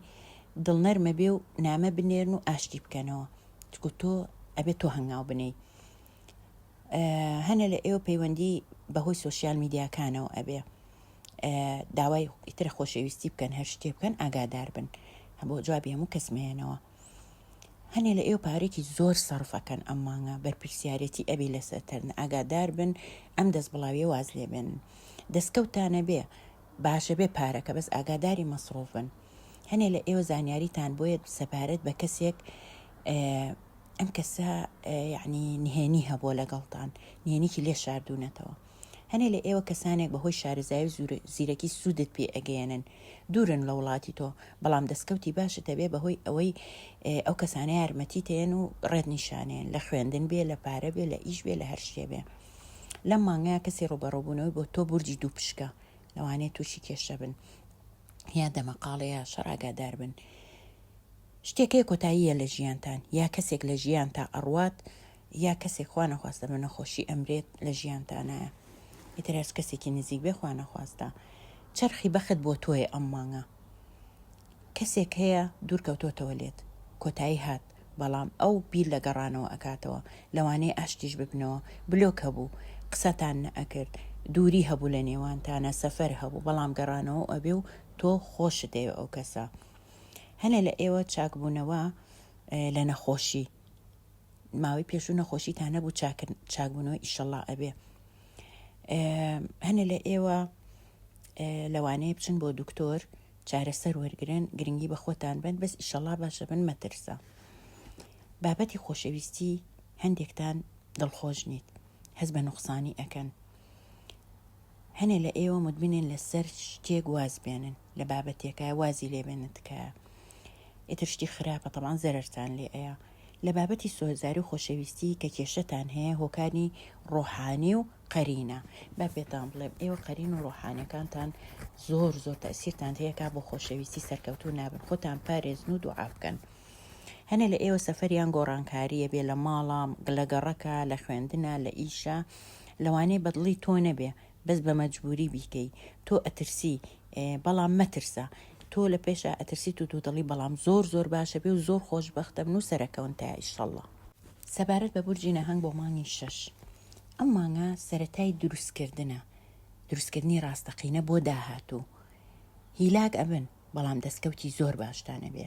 A: دڵنەرمە بێ و نامە بنێرن و ئاشتی بکەنەوە، چکو تۆ ئەبێ تۆ هەنگاو بنێی. هەنە لە ئێوە پەیوەندی بە هۆی سۆشیال میدیاکانەوە ئەبێ داوای ئیترە خۆشەویستی بکەن هەر شتێ بکەن ئاگادار بن بۆ جوابی هەموو کەس مێنەوە. هەنێ لە ئێو پارێکی زۆر سەرف ئەکەن ئەم مانگە بەرپرسیارەتی ئەبی لەسەرتەرن ئاگادار بن ئەم دەست بڵاویە واز لێبێن دەستکەوتانە بێ باشە بێ پارەکە بەس ئاگاداری مەسرۆف بن هەنێ لە ئێوە زانیاریتان بۆیە سەبارەت بە کەسێک ئەم کەسە یعنی نهێنی هەبووە لەگەڵتان نهێنیکی لێ شاردونەتەوە هەنێ لە ئێوە کەسانێک بەهۆی شارەزایی و زیرەکی سوودت پێ ئەگەیەنن دوورن لە وڵاتی تۆ بەڵام دەستکەوتی باشت هەبێ بەهۆی ئەوەی ئەو کەسانە یارمەتی تێن و ڕێت نیشانێن لە خوێندن بێ لە پارە بێ لە ئیش بێ لە هەر شتێ بێ لەم مانگەیە کەسی ڕوبەڕۆبوونەوەی بۆ تۆ بورجی دوو پشکە لەوانەیە تووشی کێشە بن یا دەمەقاڵەیە شەڕاگادار بن شتێکەیە کۆتاییە لە ژیانتان یا کەسێک لە ژیان تا ئەڕوات یا کەسێک خوا نەخواستە بە نەخۆشی ئەمرێت لە ژیانتانایە ئیتر هەرچ کەسێکی نزیک بێ خوا نەخواستە چەرخی بەخت بۆ تۆیە ئەم مانگە کەسێک هەیە دوورکەوتۆتەوە لێت کۆتایی هات بەڵام ئەو بیر لە گەڕانەوە ئەکاتەوە لەوانەیە ئاشتیش ببنەوە بلۆک هەبوو قسەتان نەئەکرد دووری هەبوو لە نێوانتانە سەفەر هەبوو بەڵام گەڕانەوە ئەبێ و تۆ خۆشت دەوێ ئەو کەسە هەنێ لە ئێوە چاکبوونەوە لە نەخۆشی ماوەی پێشوو نەخۆشی تا نەبوو چاکبوونەوە ئیشەڵا ئەبێ هەنێ لە ئێوە لەوانەیە بچن بۆ دکتۆر چارەسەر وەرگن گرنگی بە خۆتان بن بەس ئیشەڵا باشە بن مەترسە بابەتی خۆشەویستی هەندێکتان دڵخۆش نیت هەز بە نوقسانی ئەەکەن هەنێ لە ئێوە مدمنێن لەسەر شتێک واز بێنن لە بابەتێکە وازی لێبێنن تکایە ئیتر شتی خراپە تەمان زەرتان لێ ئەیە لە بابەتی سۆزداری و خۆشەویستی کە کێشەتان هەیە هۆکاری ڕۆحانی و قەرینە با پێتان بڵێم ئێوە قەرین و ڕۆحانەکانتان زۆر زۆر تەسیرتان هەیەکە بۆ خۆشەویستی سەرکەوتو نابن خۆتان پارێزن و دوعا بکەن هەنە لە ئێوە سەفەریان گۆڕانکاریە بێ لە ماڵە گلەگەڕەکە لە خوێندنە لە ئیشە لەوانەیە بەدڵی تۆ نەبێ بەس بە مەجبوری بیکەی تۆ ئەترسی بەڵام مەترسە تۆ لە پێشا ئەترسیت و دوودڵی بەڵام زۆر زۆر باشە بێ و زۆر خۆش بەختە بن و سەرەکەون تا ئیشەڵڵا. سەبارەت بە بورجی نەهەنگ بۆ مانگی شەش ئەم مانگە سەرەتای دروستکردنە دروستکردنی ڕاستەقینە بۆ داهاتوو هیلاک ئەبن بەڵام دەستکەوتی زۆر باشتان ئەبێ.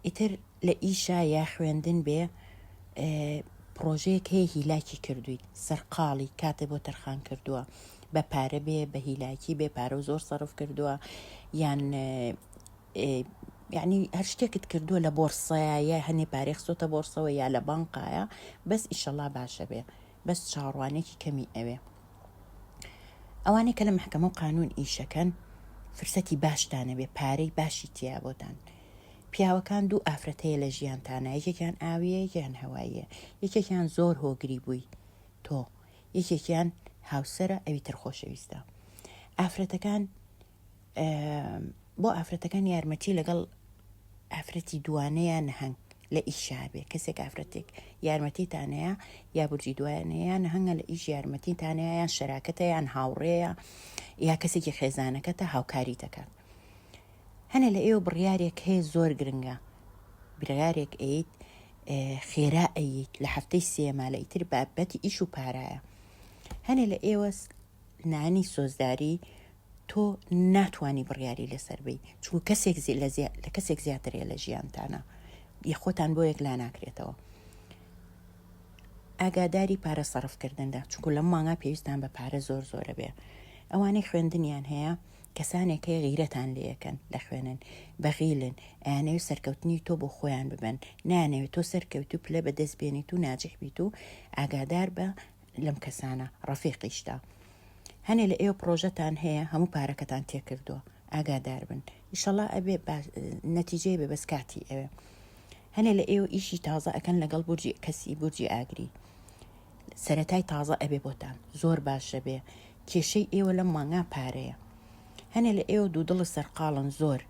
A: ئیتر لە ئیشە یا خوێندن بێ پڕۆژەیەک هەیە هیلاکی کردویت سەرقاڵی کاتێ بۆ تەرخان کردووە بە پارە بێ بە هیلاکی بێ پارە و زۆر سەرف کردووە یان یعنی هەر شتێکت کردووە لە بۆرسایە هەنێ پارێخسۆتە بۆرسەوە یا لە بانقایە بەس ئیشەڵا باشە بێ بەس چاوەڕوانێکی کەمی ئەوێ ئەوانەی کە لە محکەمە و قانون ئیشەکەن فرسەتی باشتانەبێ پارەی باشی تیا بۆتان پیاوەکان دوو ئافرەتەیە لە ژیان تانە یەکێکیان ئاویە یەکیان هەواییە یەکێکیان زۆر هۆگری بووی تۆ یەکێکیان هاوسرە ئەوی تر خۆشەویستە ئافرەتەکان بۆ ئافرەتەکان یارمەتی لەگەڵ ئافرەتی دوانەیە نەهنگ لە ئیشابێ کەسێک ئافرەتێک یارمەتی تانەیە یا بورجی دوایانەیە نەهنگە لە ئیش یارمەتی تانەیە یان شەراکەتە یان هاوڕێیە یا کەسێکی خێزانەکەتە هاوکاری دەکات هەنە لە ئێوە بڕیارێک هەیە زۆر گرنگە برارێک ئەیت خێرا ئەیت لە هەفتەی سێما لە ئیتر بابەتی ئیش و پارایە هەنێ لە ئێوە نانی سۆزداری تۆ ناتوانی بڕیاری لەسەر بی چونکە کەسێک زی لە زی... لە کەسێک زیاترێ لە ژیانتانە یە خۆتان بۆ یەک لا ناکرێتەوە ئاگاداری پارە سەرفکردندا چونکو لەم مانگا پێویستان بە پارە زۆر زۆرە بێ ئەوانەی خوێندنیان هەیە کەسانێک هەیە غیرەتان لەکەن دەخوێنن بەغیلن ئەیانەوێت سەرکەوتنی تۆ بۆ خۆیان ببن نانەوێت تۆ سەرکەوت و پلە بەدەست بێنیت و ناجح بیت و ئاگادار بە لەم کەسانە ڕەفیقیشتا هەنێ لە ئێوە پڕۆژەتان هەیە هەموو پارەکەتان تێکردووە ئاگادار بن ئیشەڵا ئەبێ نەتیجەی بێ بەس کاتی ئەوێ هەنێ لە ئێوە ئیشی تازە ئەەکەن لەگەڵ بورجی کەسی بورجی ئاگری سەتای تازە ئەبێ بۆتان زۆر باشە بێ کێشەی ئێوە لەم مانگا پارەیە هەنێ لە ئێوە دوو دڵە سەرقاڵن زۆر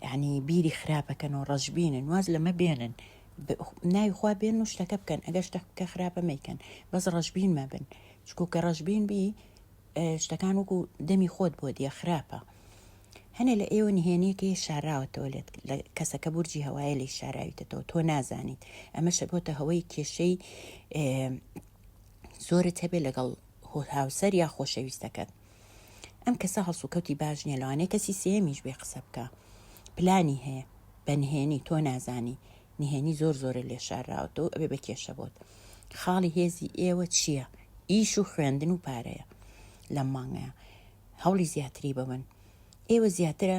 A: یعنی بیری خراپەکەن و ڕەشببینن واز لەمە بێنن ناوی خوا بێن و شتەکە بکەن ئەگەر شتەکە خراپە مەیکەن بەس ڕەشببین مەبن چکو کە ڕەشبین بی شتەکان وەکو دەمی خۆت بۆ دیە خراپە هەنێ لە ئێوە نهێنیەکەی شاراوەتەوە لێت لە کەسەکە بورجی هەوایە لی شاراویتەوە تۆ نازانیت ئەمە شەبۆتە هەوەی کێشەی زۆرت هەبێ لەگەڵ هۆ هاوسەر یا خۆشەویستەکەت ئەم کەسە هەڵسوکەوتی باش نیە لەوانەیە کەسی سێمیش بێ قسە بکە پلانی هەیە بەنهێنی تۆ نازانی نهێنی زۆر زۆرە لێ شاراوەتەوە ئەبێ بە کێشە بۆت خاڵی هێزی ئێوە چییە ئیش و خوێندن و پارەیە لەم مانگەیە هەوڵی زیاتری ببن ئێوە زیاترە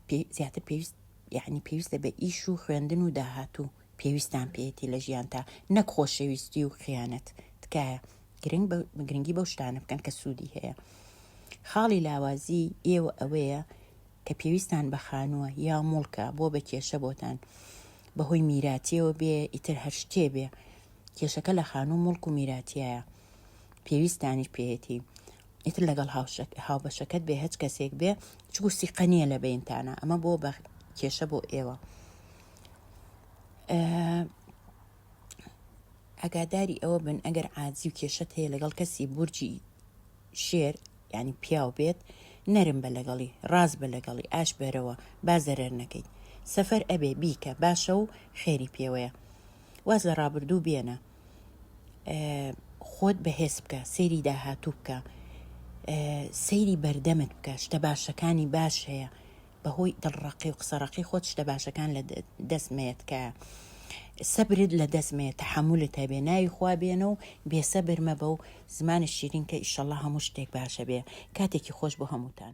A: پێ- زیاتر پێویست یعنی پێویستە بە ئیش و خوێندن و داهاتوو پێویستان پێێتی لە ژیان تا نەک خۆشەویستی و خیانەت تکایە گرنگ بە گرنگی بەو شتانە بکەن کە سوودی هەیە خاڵی لاوازی ئێوە ئەوەیە کە پێویستتان بە خانووە یا موڵکە بۆ بە کێشە بۆتان بەهۆی میراتیەوە بێ ئیتر هەر شتێ بێ کێشەکە لە خانوو مڵک و میراتایە پێویستانیش پێێتی ئیتر لەگەڵ هاوبەشەکەت بێ هەچ کەسێک بێ چگو سیقە نییە لە بینتانە ئەمە بۆ بە کێشە بۆ ئێوە ئەگاداری ئەوە بن ئەگەر عادزی و کێشت هەیە لەگەڵ کەسی بورجی شێر یانی پیاو بێت نەرم بە لەگەڵی ڕاست بە لەگەڵی ئاش بەرەوە با زەرەر نەکەیت سەفەر ئەبێ بیکە باشە و خێری پێوەیە واز لە ڕابردوو بێنە خۆت بەهێز بکە سەیری داهاتوو بکە سەیری بەردەمت بکە شتە باشەکانی باش هەیە بەهۆی دڵ ڕەقی و قسە ڕەقی خۆت شتە باشەکان لە دەست مەیە تکایە سەبرت لە دەست مەیە تەحملت هەبێ ناوی خوا بێنە و بێسەبر مەبە و زمانت شیرین کە ئیشەڵڵا هەموو شتێک باشە بێ کاتێکی خۆش بۆ هەمووتان